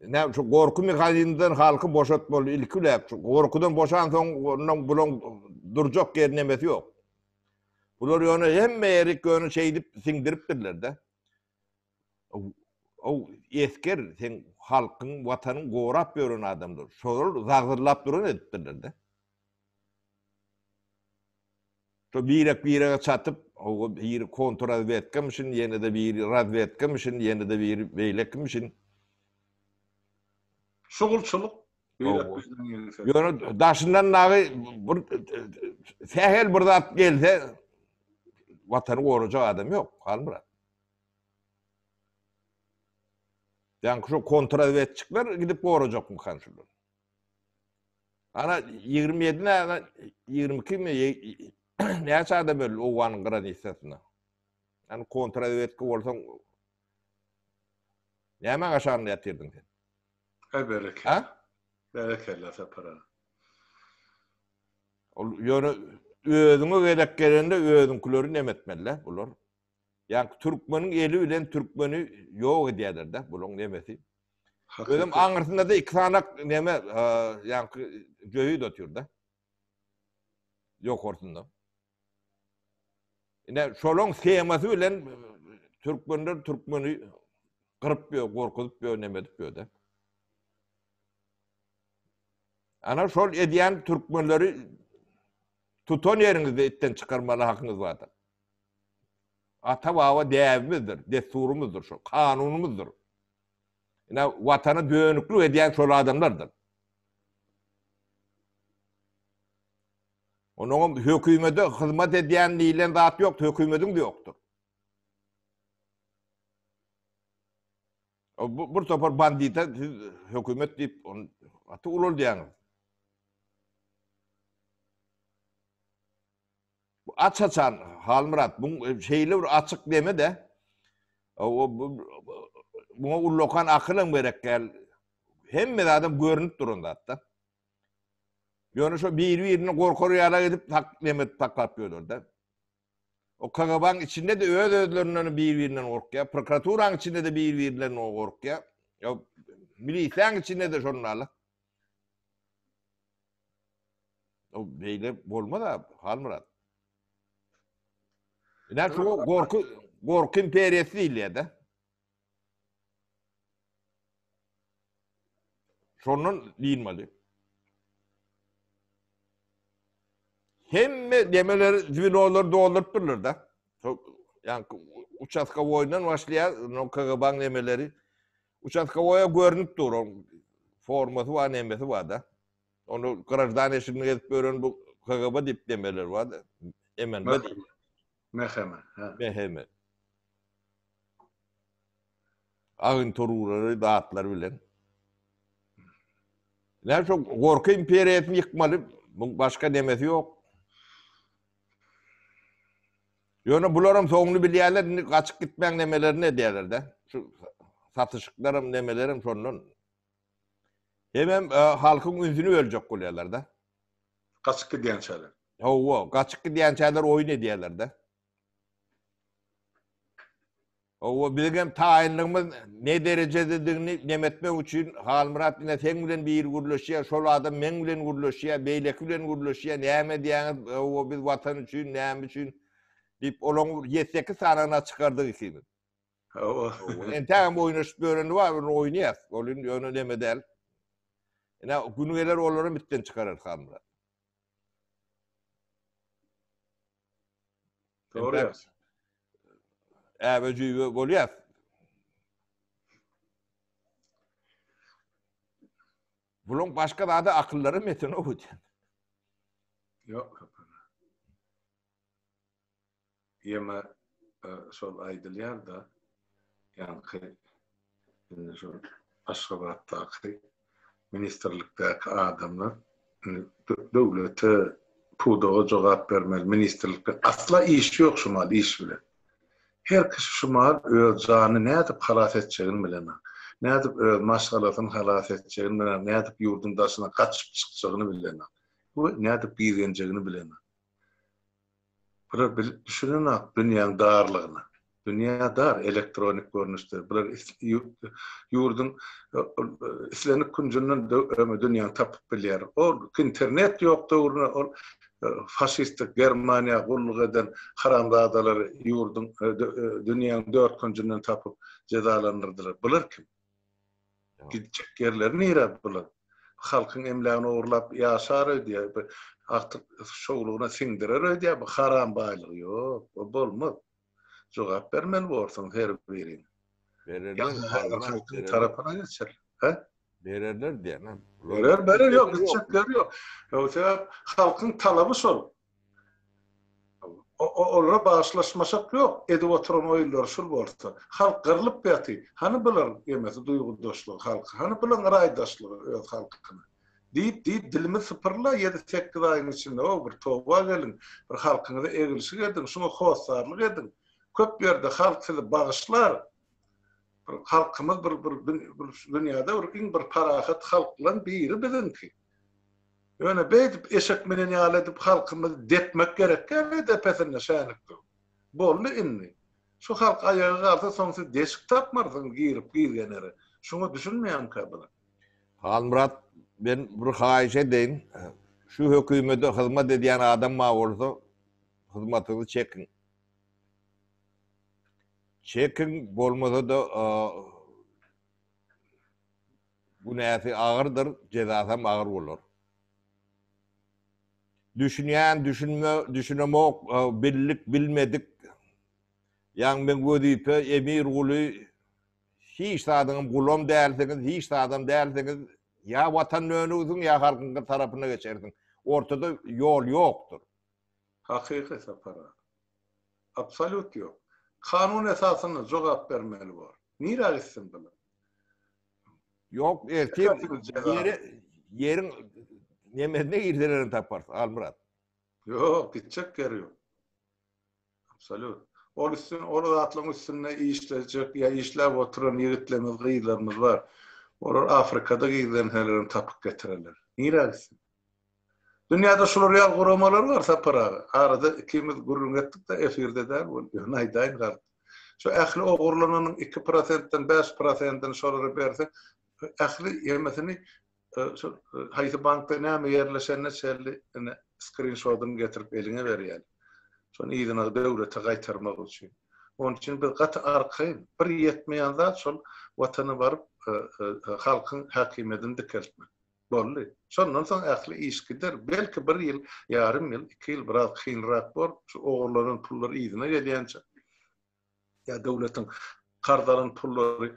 Speaker 2: Ne şu gorky mehanizmden halky boşatmaly ilki bilen. Gorkudan boşan soň ondan bulan durjak ýer nemesi ýok. Bular ýöne hemme ýeri göni şeýdip siňdiripdirler-de. Ow, esger, seň halkyň, watanyň gorap ýören adamlar, şolar zagzyrlap duran edipdirler-dä. Şo birek-birege çatyp, ow, biri kontrrazwedkamişin, ýene-de biri razwedkamişin, ýene-de biri beýlekimişin.
Speaker 1: Şugulçylyk birek-birden ýöräp.
Speaker 2: Ýöne daşyndan dagy bir sähel bir zat gelse, watany gorajak adam ýok, Halmyrat. Ýaňky şo kontrrazwedçikler gidip gorajakmykan şular? Ana ýigrimi ýedi näme, ýigrimi ikimi, näçe adam öldi Owganyň granitsasynda? Ýani kontrrazwedka bolsaň, nämäň aşagynda ýatyrdyň sen? He, berekella.
Speaker 1: Ha?
Speaker 2: Berekella
Speaker 1: Sapar aga.
Speaker 2: Ol ýöne özüňe gezek gelende özüňkileri nemetmeli-le bular. Ýa türkmeniň eli bilen türkmeni ýok edýärler-de, bulaň nemesi. Özüm aňyrsynda-da iki sanak neme, ýaňky jöýüt otyrda. Ýokarsynda. Ine, şolaň temasy bilen türkmenler türkmeni gyryp ýör, gorkuzyp ýör, neme edip ýör-de. Ana şol edýän türkmenleri tutan ýeriňizde itden çykarmaly hakyňyz bardyr. Ata-baba däbimizdir, dessurymyzdyr şol, kanunymyzdyr. Ine, Watana dönüklik edýän şol adamlardyr. Onuň hökümete hyzmat edýän diýlen zat ýok, hökümetiň de ýokdur. Bu bir topar bandita siz hökümet diýip on aty ulul diýýäňiz. Bu aç-açan Halmyrat, bu şeýle bir açyk deme-de, muňa ullakan akylam gerek däl, hemme zadam görnüp duran zat-da. Ýöne şo biri-birini gorkar ýala edip tak neme edip saklap ýörler-de. O KGB-niň içinde-de öz-özlerinden biri-birinden gorkýar, prokuraturanyň içinde-de biri-birinden gorkýar. Ýa milisiýanyň içinde-de şondaly. O beýle bolmaz-a, Halmyrat. Ine şu gorky, gorky imperiýasy diýilýär-de. Şondan diýilmeli. Hemme demeleri, zwiloları doldurup durlar da. Yani uçaska boyundan başlaýar, no KGB-niň demeleri. Uçastkowoýa görnüp dur, oň formasy bar, nemesi bar-da. Onu grajdan eşigini gezip gören bu KGB diýip demeler bar-da. Emen bu diýip. Meheme,
Speaker 1: ha. Meheme.
Speaker 2: Agenturalary, datlar bilen. Näme şu gorky imperiýasyny ýykmaly, bu başga nemesi ýok. Ýöne bularam soňuny bilýärler, indi gaçyp gitmäň nemelerini edýärler-de. Şu satyşyklaram, nemelerim şondan. Hemem halkyň ünsüni böljek bolýarlar-da. Gaçyp
Speaker 1: gidýänçäler. Hawa, gaçyp
Speaker 2: gidýänçäler oýun edýärler-de. Howwa bizigem taýynlygymyz ne derejededigini nem etmek üçin Halmyrat ine seň bilen biri gürleşýär şol adam meň bilen gürleşýär beýleki bilen gürleşýär näme edýäňiz howwa biz watan üçin näme üçin diýip olaň ýedi sekiz sanyna çykardyk ikimiz. Howwa. Howwa entägem oýnaşyp ýöreni bar ony oýnaýas ol indi ýöne neme däl. Ine güni geler olaram itden çykararys Halmyrat.
Speaker 1: Dogry ýa. Äbe
Speaker 2: jüýbe bolýas. Buluň başga zada akyllary meten o gitýän.
Speaker 1: Ýok. Ýeme şol aýdylýar da. Ýaňky Indi şu Aşgabatdaky ministrlikdäki adamlar döwlete pudaga jogap bermeli ministrlikde asla iş ýok şu mal iş bilen. Her kişi şu mal öz janyny nädip halas etjegini bilenok. Nädip öz maşgalasyny halas etjegini bilenok, nädip ýurduň daşyna gaçyp çykjagyny bilenok we nädip gizgenjegini bilenok. Bular bilip düşünenok dünýäň darlygyny. Dünýä dar, elektronik görnüşde. Bular ýurduň islendik künjünden dünýäni tapyp bilýär. O internet ýok döwrüne ol faşistik Germaniýa gulluk eden haramzadalary ýurduň dünýäň dört künjünden tapyp jezalandyrdylar. Bular kim? Gidjek ýerleri nire bular? Halkyň emlägini ogurlap ýaşar öýdýär. Bir agtyk şowlugyna siňdirer öýdýär bu haram baýlygy. Ýok, bu bolmaz. Jogap bermeli borsuň her biriň. Bererler
Speaker 2: tarapyna geçer.
Speaker 1: He? Bererler
Speaker 2: diýen. Berer, berer ýok,
Speaker 1: gitjekleri ýok. Ýögse halkyň talaby şol. Olara bagyşlaşmasak ýok, edip oturan oýunlary şul bolsa. Halk gyrlyp ýaty, hany bularyň emesi duýgudaşlygy halka, hany bularyň yraýdaşlygy öz halkyna. Diýip diýip dilimi sypyrla ýedi sekiz aýyň içinde ow bir toba geliň, bir halkyňyza egilşik ediň, şuňa hossarlyk ediň. Köp ýerde halk sizi bagyşlar. Bir halkymyz bir bir dünýäde bir iň bir parahat halklan biri biziňki. Ýöne beýdip eşek minen ýaly edip halkymyzy depmek gerek däldi depesinde şänik durup. Boldy indi. Şu halk aýaga galsa soň siz deşik tapmarsyňyz girip gizgenere. Şuňa düşünmeýänkä bular. Halmyrat
Speaker 2: men bir haýyş edeýin. Şu hökümede hyzmat edýän adam bar bolsa hyzmatyňyzy çekiň. Çekiň bolmasa-da Günäsi agyrdyr, jezasam agyr bolar. Düşünýän, düşünme, düşünemok, bildik, bilmedik, ýaňy men wezipe, emir, guly, hiç zadyňam gulam dälsiňiz, hiç zadam dälsiňiz, ýa Watana dönersiň, ýa halkyňky tarapyna geçersiň, ortada ýol ýokdur. Hakyky
Speaker 1: sapara. Absolýut ýok. Kanun esasynda jogap bermeli bor. Nirä gitsin bular?
Speaker 2: Yok ertir yeri yerin nemesine girseler taparsın Almurat. Yok
Speaker 1: gidecek yer yok. Absolut. Ol üstün, ol zatlaryň üstünde işleyecek ya işläp oturan ýigitlerimiz, gyzlarymyz bar. Olar Afrikada gizlenseler tapyp getireler. Nirä gitsin? Dünýäde şular ýaly guramalar bar Sapar aga. Arada ikimiz gürrüň etdikde efirde däl bolup ýöne aýdaýyn galyp. Şu ähli ogurlananyň iki prosentden bäş prosendini şolara berseň ähli ýemesini şol haýsy bankda näme ýerleşenine çenli ine skrinşodyny getirip eliňe berýäler. Şony yzyna döwlete gaýtarmak üçin. Onuň üçin biz gaty arkaýyn. Bir ýetmeýän zat şol watana baryp halkyň häkimiýedini dikeltmek. Boldy. Şondan soň ähli iş gider. Belki bir ýyl, ýarym ýyl, iki ýyl biraz kynrak bor. Şu ogurlanan pullar yzyna gelýänçä ýa döwletiň karz alan pullary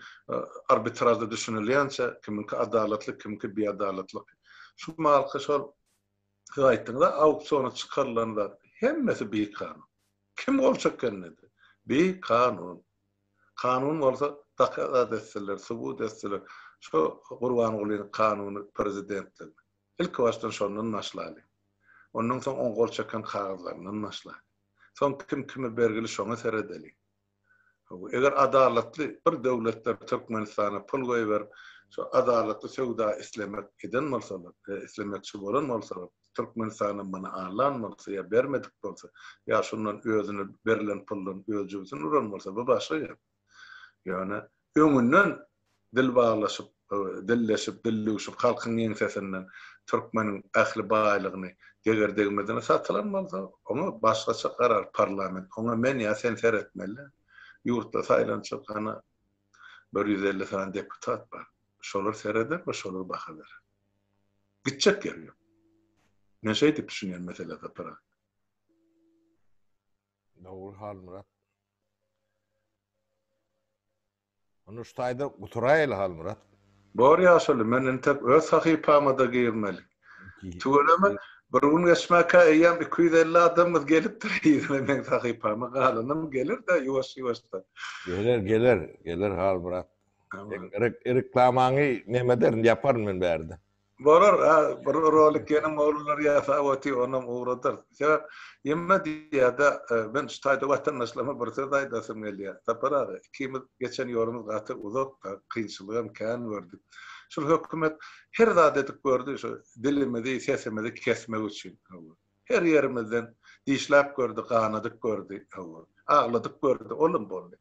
Speaker 1: arbitražda düşünilýänçä, kimiňki adalatly, kimiňki biadalatly. Şu malky şol siz aýtdyňyz-a, auksiona çykarylan zat. Hemmesi bikanun. Kim gol çekende-de, bikanun. Kanun bolsa dokazat etseler, subut etseler, şo Gurbangulynyň kanuny prezidentligini. Ilki başdan şondan başlalyň. Ondan soň oň gol çeken kagyzlaryndan başlalyň. Soň kim kime bergili şoňa seredeliň. Hawa, eger adalatly bir döwletler Türkmenistana pul goýberip, şo adalatly söwda islemek eden bolsalar, islemekçi bolan bolsalar, Türkmenistana muny alan bolsa ýa bermedik bolsa, ýa şundan özüne berlen puldan öz jübüsini uran bolsa, bu başga gep. Ýöne öňünden dil baglaşyp, dilleşip, dil düwşüp, halkyň ýeňsesinden türkmeniň ähli baýlygyny deger-degmezine satylan bolsa, oňa başgaça karar parlament, oňa men ýa sen seretmeli. Ýurtda saýlanjak hany bir ýüz elli sany deputat bar. Şolar sereder we şolar baha berer. Gitjek ýeri ýok. Men şeýdip düşünýän mesele Sapar aga.
Speaker 2: Dogry Halmyrat. Ony şu taýda guturaýaly Halmyrat. Bor ýaşuly
Speaker 1: men entek öz sahypamada girmeli. Tüweleme bir gün geçmäkä eýýäm iki ýüz elli adamymyz gelipdir yzyna meň sahypama galanam geler-de ýuwaş ýuwaşdan. Geler geler
Speaker 2: geler Halmyrat. Reklamaňy näme ederin, ýaparyn men bärde. Bolar,
Speaker 1: bir rolik ýene oglanlar ýasap otyr, onam ugradar. Sebäp, ýene diýýärde, men şu taýda watandaşlaryma bir söz aýdasym gelýär. Sapar aga, ikimiz geçen ýolumyz gaty uzak-da, kynçylygam kän gördük. Şul hökümet her zat edip gördi, şu dilimizi, sesimizi kesmek üçin. Her ýerimizden dişläp gördi, ganadyp gördi. Agladyp gördi, olam boldy.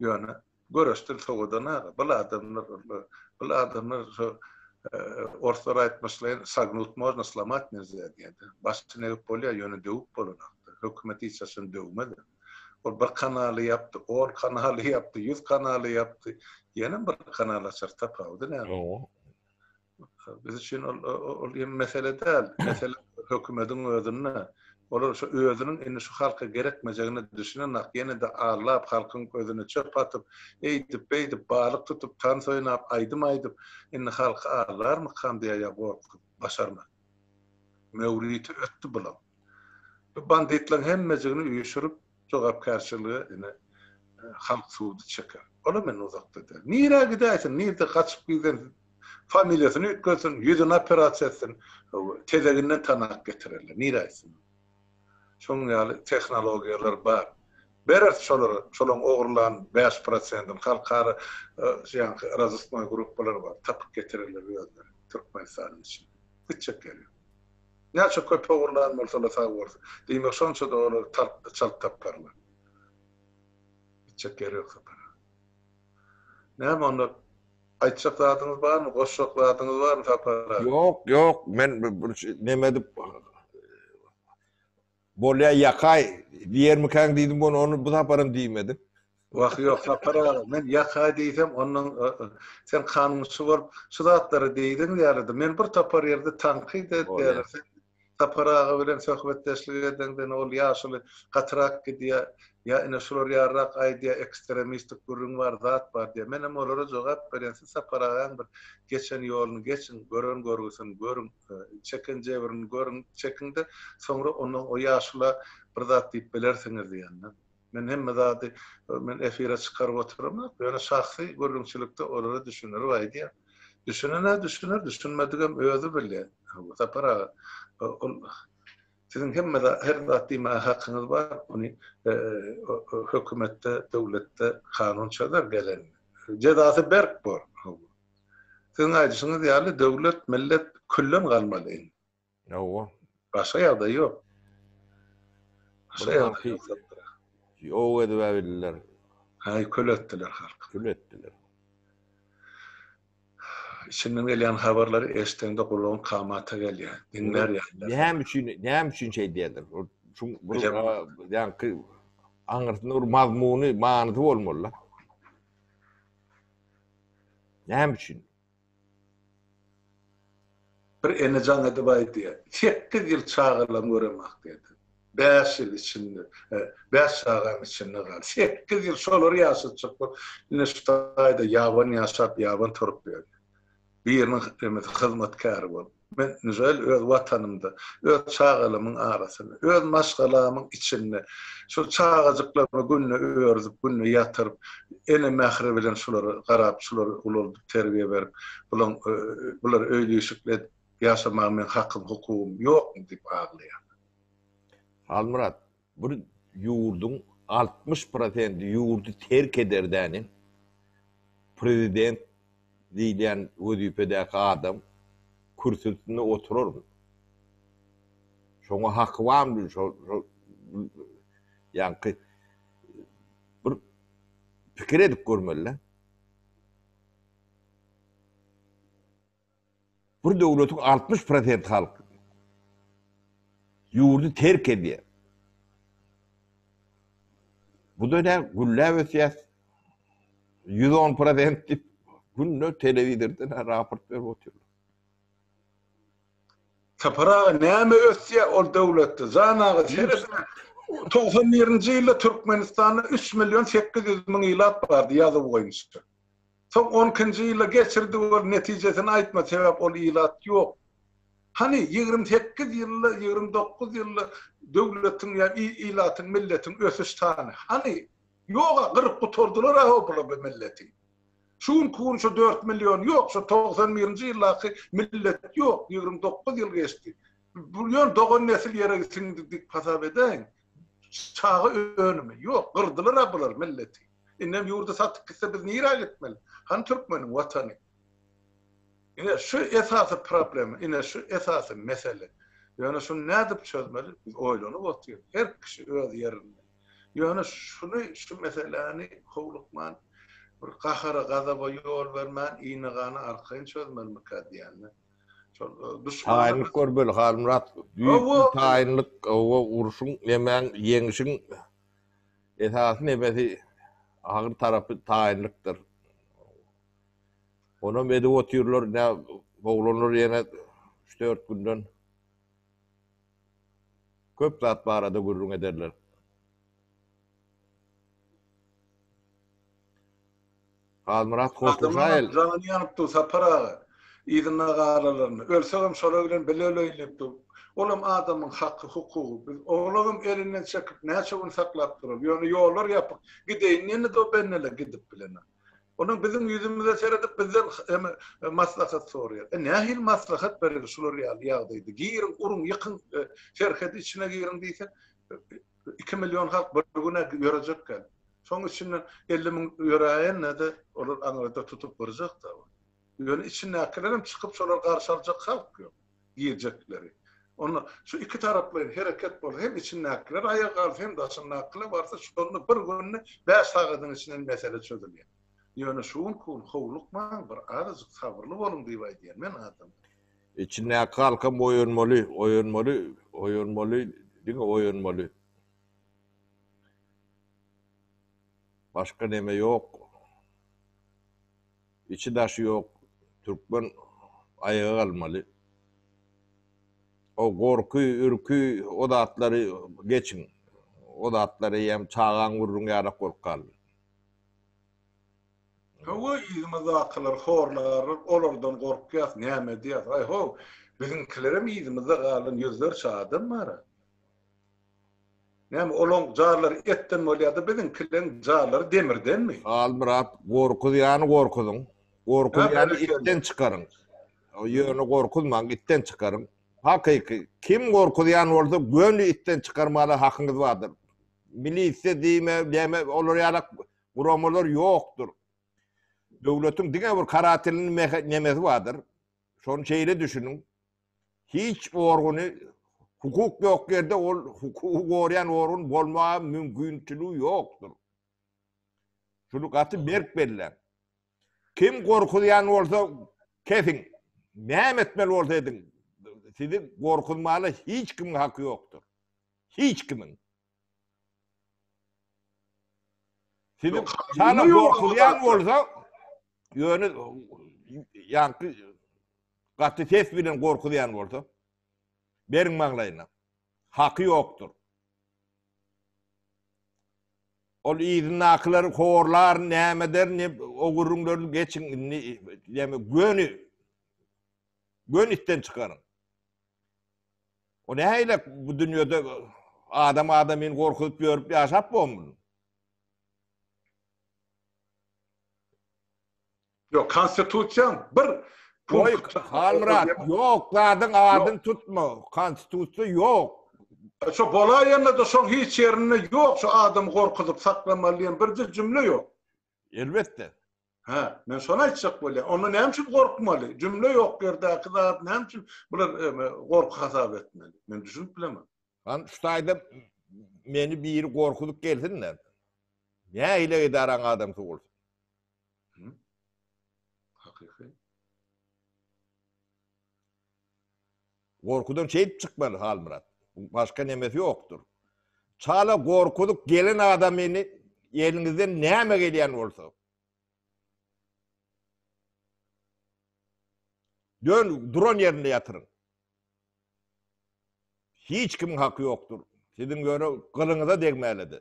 Speaker 1: Ýöne Görüşdir sowadan aga. Bul adamlar ol. Bul adamlar şu orslar aýtmyşlaýyn sagnut można slomat nelzya diýen. Başdan egip bolýar ýöne döwüp bolanakdyr. Hökümet hiç haçan döwmez. Ol bir kanaly ýapdy, on kanaly ýapdy, ýüz kanaly ýapdy. Ýene bir kanal açar tapawudy näme. Biz üçin ol ol ýene mesele däl. Mesele hökümetiň özünde. Olar şu özüniň indi şu halka gerekmejegine düşünenok. Ýene-de aglap, halkyň gözüne çöp atyp, eýdip, beýdip, balyk tutup, tans oýnap, aýdym aýdyp, indi halky aglarmykam diýýär gorkup, başarman. Möwriti ötdi bulaň. Bu banditleň hemmejigini üýşürip, Jogapkärçiligi ine halk sudy çeker. Olam indi uzakda däl. Nirä gidäýsin, nirde gaçyp gizlensin, familiýasyny üýtgetsin, ýüzüni operasiýa etsin, tezeginden tanak getirerler. Nirä gitsin? Şonuň ýaly tehnologiýalar bar. Bereris şolara, şolaň ogurlan bäş prosendini. Halkara şu ýanky razısknoý gruppalar bar. Tapyp getirerler özleri Türkmenistanyň içinde. Gitjek ýeri ýok. Näçe köp ogurlan bolsalar sag bolsun. Diýmek şonça-da olar tartdy, çalt taparlar. Gitjek ýeri ýok sapara. Näme onda aýtjak zadyňyz barmy, goşjak zadyňyz barmy sapara? Ýok, ýok, men
Speaker 2: bir neme edip Bolýa ýakaý diýermikäň diýdim ony, ony bu saparam diýmedim. Wah ýok
Speaker 1: Sapar aga, men ýakaý diýsem onnoň sen kanunçy bolup şu zatlary diýdiň ýalydy. Men bir topar ýerde tankyt edýärin. Sen Sapar aga bilen söhbetdeşlik edeňden ol ýaşuly gatyrak gidýär. Ýa ine şular ýaryrak aýdýar ekstremistik gürrüň bar, zat bar diýýär. Menem olara jogap berýän siz Sapar agaň bir geçen ýoluny geçiň, gören görgüsini görüň. Çeken jebrini görüň, çekiň-de, soňra ondan o ýaşula bir zat diýip bilersiňiz diýende, men hemme zady men efire çykaryp oturamok, ýöne şahsy gürrüňçilikde olara düşündirip aýdýan. Düşünen-ä düşüner, düşünmedigem özi bilýän. Hawa, Sapar aga, ol siziň hemme zat, her zat diýmäge hakyňyz bar, ony hökümetde, döwletde kanun çözer, gelen jezasy berk bor. Hawa. Siziň aýdyşyňyz ýaly döwlet, millet külden galmaly indi. Hawa.
Speaker 2: Başga ýagdaý
Speaker 1: ýok. Başga ýagdaý ýok. Ýok
Speaker 2: edibäbildiler. Haý kül
Speaker 1: etdiler halky. Kül etdiler. Içinden gelýän habarlary eşdeňde gulagyň kamata gelýär. Diňlär ýaly. Näme üçin, näme üçin
Speaker 2: şeý diýerler? Şu bir ýaňky aňyrsynda bir mazmuny, manysy bolmaly-da. Näme üçin?
Speaker 1: Bir ene jaň edip aýdýar, Sekiz ýyl çagalam göremok diýdi. Bäş ýyl içinde, bäş çagam içinde galdy. Sekiz ýyl şolary ýaşatjak bolup, ine şu taýda ýabany ýaşap, ýabany turup ýörün. biriniň hemmesi hyzmatkäri bolup, men Nžel öz watanymda, öz çagalamyň arasynda, öz maşgalamyň içinde, şol çagajyklarymy günde örüzip, günde ýatyryp, ene mähri bilen şulara garap, şulary ulaldyp, terbiýe berip, bulaň bular öýli-işikli edip ýaşamaga meň hakym, hukugym ýokmy diýip aglaýarlar.
Speaker 2: Halmyrat, Bir ýurduň altmyş prosenti ýurdy terk ederdäne, prezident diýilýän wezipedäki adam kürsüsinde oturarmy? Şoňa haky barmy? Ýaňky bir pikir edip görmeli-dä. Bir döwletiň altmyş prosenti halky ýurdy terk edýär. Bu-da ne, gülläp ösýäs, ýüz on prosent diýip, günde telewizordan raport berip otyrlar.
Speaker 1: Sapar aga, näme ösýär ol döwletde? Jan aga, seredin-ä, togsan birinji ýylda Türkmenistanda üç million sekiz ýüz müň ilat bardy, ýazuw boýunça. Soň on ikinji ýylda geçirdi bol netijesini aýtma sebäp ol ilat ýok. Hany ýigrimi sekiz ýylda ýigrimi dokuz ýylda döwletiň ýa ilatyň milletiň ösüş sany hany ýoga gyryp gutardylar a obla bu milleti. Şu günki gün şu dört million ýok şu togsan birinji ýyldaky millet ýok ýigrimi dokuz ýyl geçdi. Bu ýöne dogan nesil ýere siňdi dip hasap edäýiň. Çaga önümi. Ýok, gyrdylar-a bular milleti. Indem ýurdy satyp gitse biz nirä gitmeli? Hany türkmeniň watany? Ine şu esasy problema, ine şu esasy mesele. Ýöne şuny nädip çözmeli? Biz oýlanyp otyrys. Her kişi öz ýerinde. Ýöne şuny, şu meseläni howlukman, bir gahara-gazaba ýol bermän, yny-gany arkaýyn çözmelimikä diýýän-de.
Speaker 2: Taýynlyk görmeli Halmyrat. Taýynlyk owa urşuň nemäň ýeňişiň esasy nebesi agyr tarapy taýynlykdyr. Onam edip otyrlar ine oglanlar ýene üç dört günden köp zat barada gürrüň ederler. Halmyrat Hotlujaýew. Adamlaryň jany ýanyp dur
Speaker 1: Sapar aga. Yzynda galalaryn. Ölsegem şolar bilen bile öleýin diýip dur. Olam adamyň haky, hukugy. Biz oglagam elinden çekip näçe gün saklap duralys. Ýöne ýollar ýapyk. Gideýin diýende-de o benneler gidip bilenok. Olam biziň ýüzümize seredip bizden maslahat soraýar. E nähili maslahat bereli şular ýaly ýagdaýda. Giriň, uruň, ýykyň, serhedi içine giriň diýsek. Iki million halk bir güne ýörejekgän. Şoň içinden elli müň ýöräýende-de olar aňyrda tutup gyrjak-da. Ýöne içindäkilerem çykyp şolary garşy aljak halk ýok. Girjekleri. Onda şu iki taraplaýyn hereket bolsa hem içindäkiler aýaga galsa hem daşyndakylar barsa şonda bir günde bäş sagadyň içinden mesele çözülýär. Ýöne şu günki gün howlukmaň bir azajyk sabyrly boluň diýip aýdýan men adamlara. Içindäki
Speaker 2: halkam oýanmaly, oýanmaly, oýanmaly, diňe oýanmaly. Başga neme ýok. Içi-daşy ýok türkmen aýaga galmaly. O gorky, ürki, o zatlary geçiň. O zatlar eýýäm çagaň gürrüňi ýaly-ak bolup galdy.
Speaker 1: Hawa, yzymyzdakylar horlarlar, olardan gorkýas, näme edýäs, aý-ho, biziňkilerem yzymyzda galan ýüzlerçe adam bar-a. Näme, olaň jarlary etden bolýa-da, biziňkileriň jarlary demirdenmi? Halmyrat,
Speaker 2: gorkuzýany gorkuzyň, gorkuzýany itden çykaryň. Ýöne gorkuzmaň, itden çykaryň. Hakyky, kim gorkuzýan bolsa, göni itden çykarmaga hakyňyz bardyr. Milisiýa diýme, näme, olar ýalak Guramalar ýokdur. Döwletiň diňe bir karatilini meheknemesi bardyr. Şony şeýle düşüniň. Hiç organy hukuk ýok ýerde ol hukugy gorýan organ bolmaga mümkinçiligi ýokdur. Şuny gaty berk belläň. Kim gorkuzýan bolsa kesiň. Näme etmeli bolsa ediň. Sizi gorkuzmaga hiç kimiň haky ýokdur. Hiç kimiň. Sizi hala gorkuzýan bolsa, ýöne ýaňky gaty ses bilen gorkuzýan bolsa, beriň maňlaýyna. Haky ýokdur. Ol yzyndakylary horlar, näme eder, ne o gürrüňleri geçiň, indi näme göni göni itden çykaryň. O nähilek bu dünýede adam adamyny gorkuzyp ýörüp ýaşap bolmur.
Speaker 1: Ýok, konstitusiýa bir punkt. Halmyrat,
Speaker 2: ýok, zadyň adyn tutma. Konstitusiýa ýok. Şu
Speaker 1: bolaýanda-da şoň hiç ýerinde ýok, şu adam gorkuzyp saklamaly diýen birje jümle ýok. Elbetde.
Speaker 2: Hä, men
Speaker 1: şony aýtjak bolýan. Onda näme üçin gorkmaly? Jümle ýok ýerdäki zat näme üçin bular gorky hasap etmeli? Men düşünip bilemok. Lan
Speaker 2: şu taýda meni biri gorkuzyp
Speaker 1: gelsin-de.
Speaker 2: Nähili edaraň adamsy bolsun. Gorkudan şeýdip çykmaly Halmyrat. Başga nemesi ýokdur. Çala gorkuzyp gelen adamyny eliňizden näme gelýän bolsa. Dön duran ýerinde ýatyryň. Hiç kimiň haky ýokdur. Siziň ýöne gylyňyza degmälidi.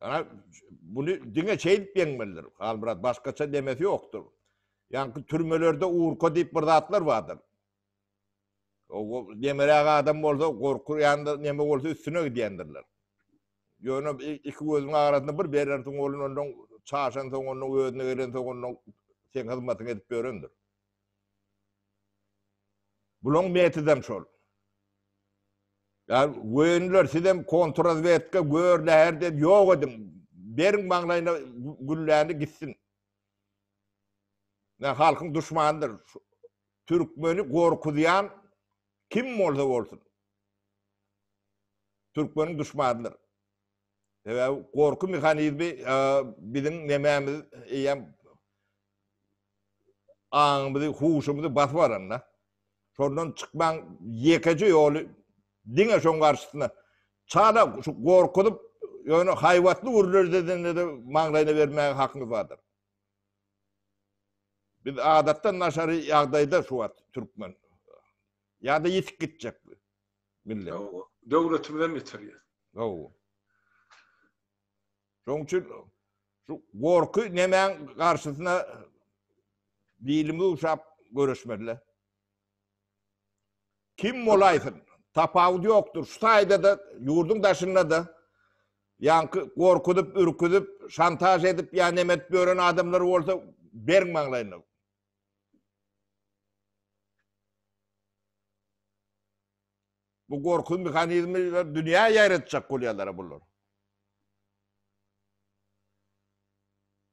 Speaker 2: Ýa buny diňe şeýdip ýeňmelidir. Halmyrat başgaça demesi ýokdur. Ýaňky türmelerde urka diýip bir zatlar bardyr. O demeräk adam bolsa gorkurýanda neme bolsa üstüne gidýändirler. Ýöne iki gözüň arasynda bir berersiň bolun ondan çaşan soň ondan özüne gelen soň ondan seň hyzmatyňy edip ýörendir. Bulaň metodam şol. Ýani wöýünler sizem kontrrazwedka gör läher diýip ýok ediň. Beriň maňlaýyna gülläni gitsin. Nä halkyň duşmanydyr. Türkmeni gorkuzýan kim bolsa bolsun. Türkmeniň duşmanydyr. Sebäbi gorky mehanizmi biziň nemämiz eýýäm aňymyzy, huşumyzy basyp alanda, şondan çykmaň ýekeje ýoly diňe şoň garşysyna çala şu gorkuzyp, ýöne haýbatly gürlerdedende-de maňlaýyna bermäge hakyňyz bardyr. Biz adatdan daşary ýagdaýda şu wagt türkmen ýa-da ýitip gitjek. Millet. Hawa. Döwletimizem
Speaker 1: ýitirýär. Hawa.
Speaker 2: Şonuň üçin şu gorky nemäň garşysyna bilimi uşap göreşmeli. Kim bolaýsyn, tapawudy ýokdur. Şu taýda-da, ýurduň daşynda-da ýaňky gorkuzyp, ürküzip, şantaž edip ýa neme edip ýören adamlar bolsa bergiň maňlaýyna. Bu gorky mehanizmleri dünýä ýaýratjak bolýarlar bular.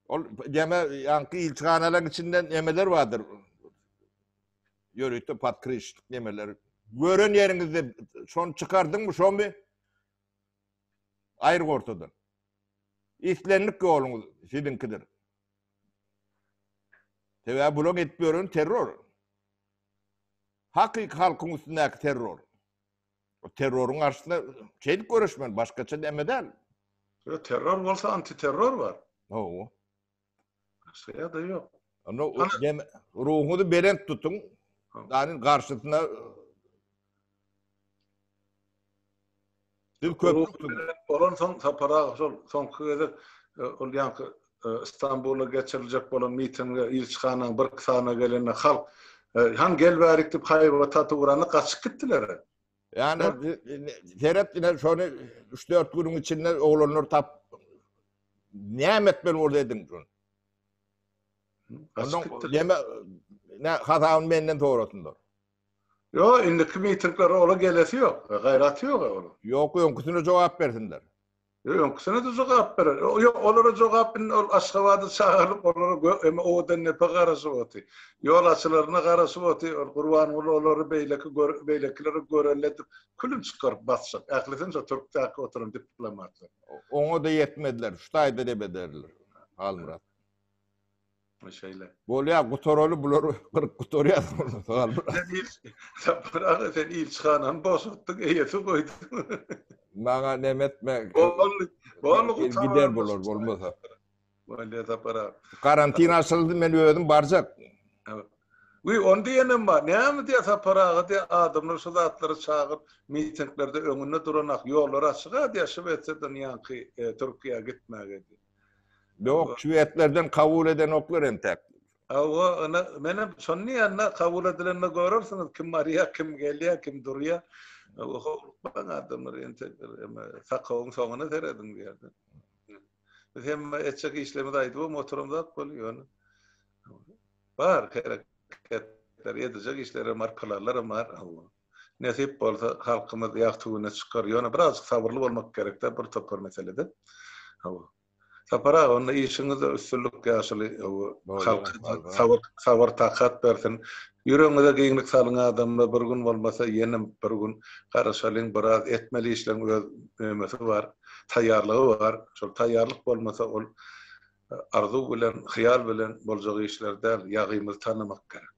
Speaker 2: Ol deme ýaňky ilçihanalaryň içinde nemeler bardyr. Ýörite podkryşyk nemeler. Gören ýeriňizde şony çykardyňmy, şomy? Aýyr gortadan. Islendik ýoluňyz siziňkidir. Sebäbi bularyň edip ýöreni terror. Hakyky halkyň üstündäki terror. O terroryň garşysyna şeýdip göreşmeli, başgaça näme däl. Ýa terror
Speaker 1: bolsa antiterror bar. Hawa. Başga ýa-da ýok. Onda
Speaker 2: ruhuňyzy belent tutuň. Danyň garşysyna
Speaker 1: Biz köp bolansoň Sapar aga şol soňky gezek e, ol ýanky e, Istanbulda geçiriljek bolan mitinge ilçihanaň bir sany gelende halk e, han gel bärik diýip haýba taty uranda gaçyp gitdiler. Yani
Speaker 2: seret yine şonu 3-4 günün içinde oğlanlar tap nimet ben orada edin şunu. Ondan yeme ne hasabını benden sonrasındır. Ýo
Speaker 1: indiki mitinglere ola gelesi ýok. Gaýraty ýok a ola. Ýok öňküsine jogap
Speaker 2: bersinler. Ýo öňküsine de
Speaker 1: jogap berer. Ýo olara jogap indi ol Aşgabada çagyrylyp olara gö eme owadan nepe garaşyp oty. Ýol açylaryna garaşyp oty. Ol Gurbanguly olary beýleki gör beýlekileri görelle edip külüm çykaryp basjak. Ählisini şo türkdäki oturan diplomatlar. Oňa-da
Speaker 2: ýetmezler. Şu taýda debederler. Halmyrat.
Speaker 1: Ýokmy şeýle? Bolýar,
Speaker 2: gutaraly bulary, gyryp gutarýas bolsa sag bol. Sen il Sapar aga
Speaker 1: sen ilçihanany boşatdyň, eýesi goýduň. Maňa
Speaker 2: neme etme. Boldy, boldy
Speaker 1: gutaran. Gider bular bolmasa.
Speaker 2: Bolýar
Speaker 1: Sapar aga. Karantin açyldy
Speaker 2: men özüm barjak. Wiý,
Speaker 1: ony diýenem bar. Näme diýýär Sapar aga diýýär, adamlar şu zatlary çagyryp, mitinglerde öňünde duran ak, ýollar açyk-a diýýär, Şwesiýadan ýaňky Türkiýä gitmäge diýýär. Yok
Speaker 2: şwedlerden kabul edenoklar entek. Hawa ina
Speaker 1: menem şony diýända kabul edilende görersiňiz kim barýa kim gelýä kim durýa howlukmaň adamlar entek eme sakawyň soňuna serediň diýerdi. Biz hem etjek işlerimizi aýdybam oturamzak bolýa ýöne. Bar hereketler edijek işlerim bar planlarym bar Allah. Nesip bolsa halkymyz ýagty güne çykar. Ýöne birazjyk sabyrly bolmak gerekde bir topar meselede. Hawa. Sapar aga onda işiňizde üstünlik ýaşuly halka sabyr
Speaker 2: sabyr takat
Speaker 1: bersin. Ýüregiňize giňlik salyň adamlar bir gün bolmasa ýenem bir gün garaşalyň biraz etmeli işleriň öz nämesi bar taýýarlygy bar şol taýýarlyk bolmasa ol arzuw bilen hyýal bilen boljak işler däl ýagymyzy tanamak gerek.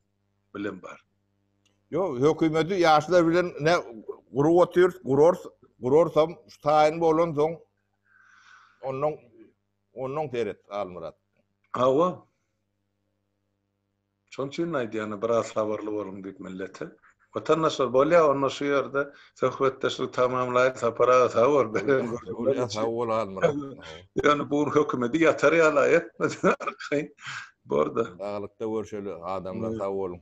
Speaker 1: bilen bar. Yo,
Speaker 2: hökümeti yaşlar bilen ne gurup otyrs, gurors, gurorsam şu tayin bolan soň ondan ondan seret Almyrat. Awa.
Speaker 1: Şol üçin aýdýan biraz sabyrly boluň diýip millete. Watandaşlar bolýa onda şu ýerde söhbetdeşlik tamamlaýyn Sapar aga sag bol beren
Speaker 2: gürrüňleriň üçin. Ýöne bu gün
Speaker 1: hökümedi ýatar ýala etmedi
Speaker 2: arkaýyn
Speaker 1: borda. Saglykda
Speaker 2: görşeli
Speaker 1: adamlar
Speaker 2: sag
Speaker 1: boluň.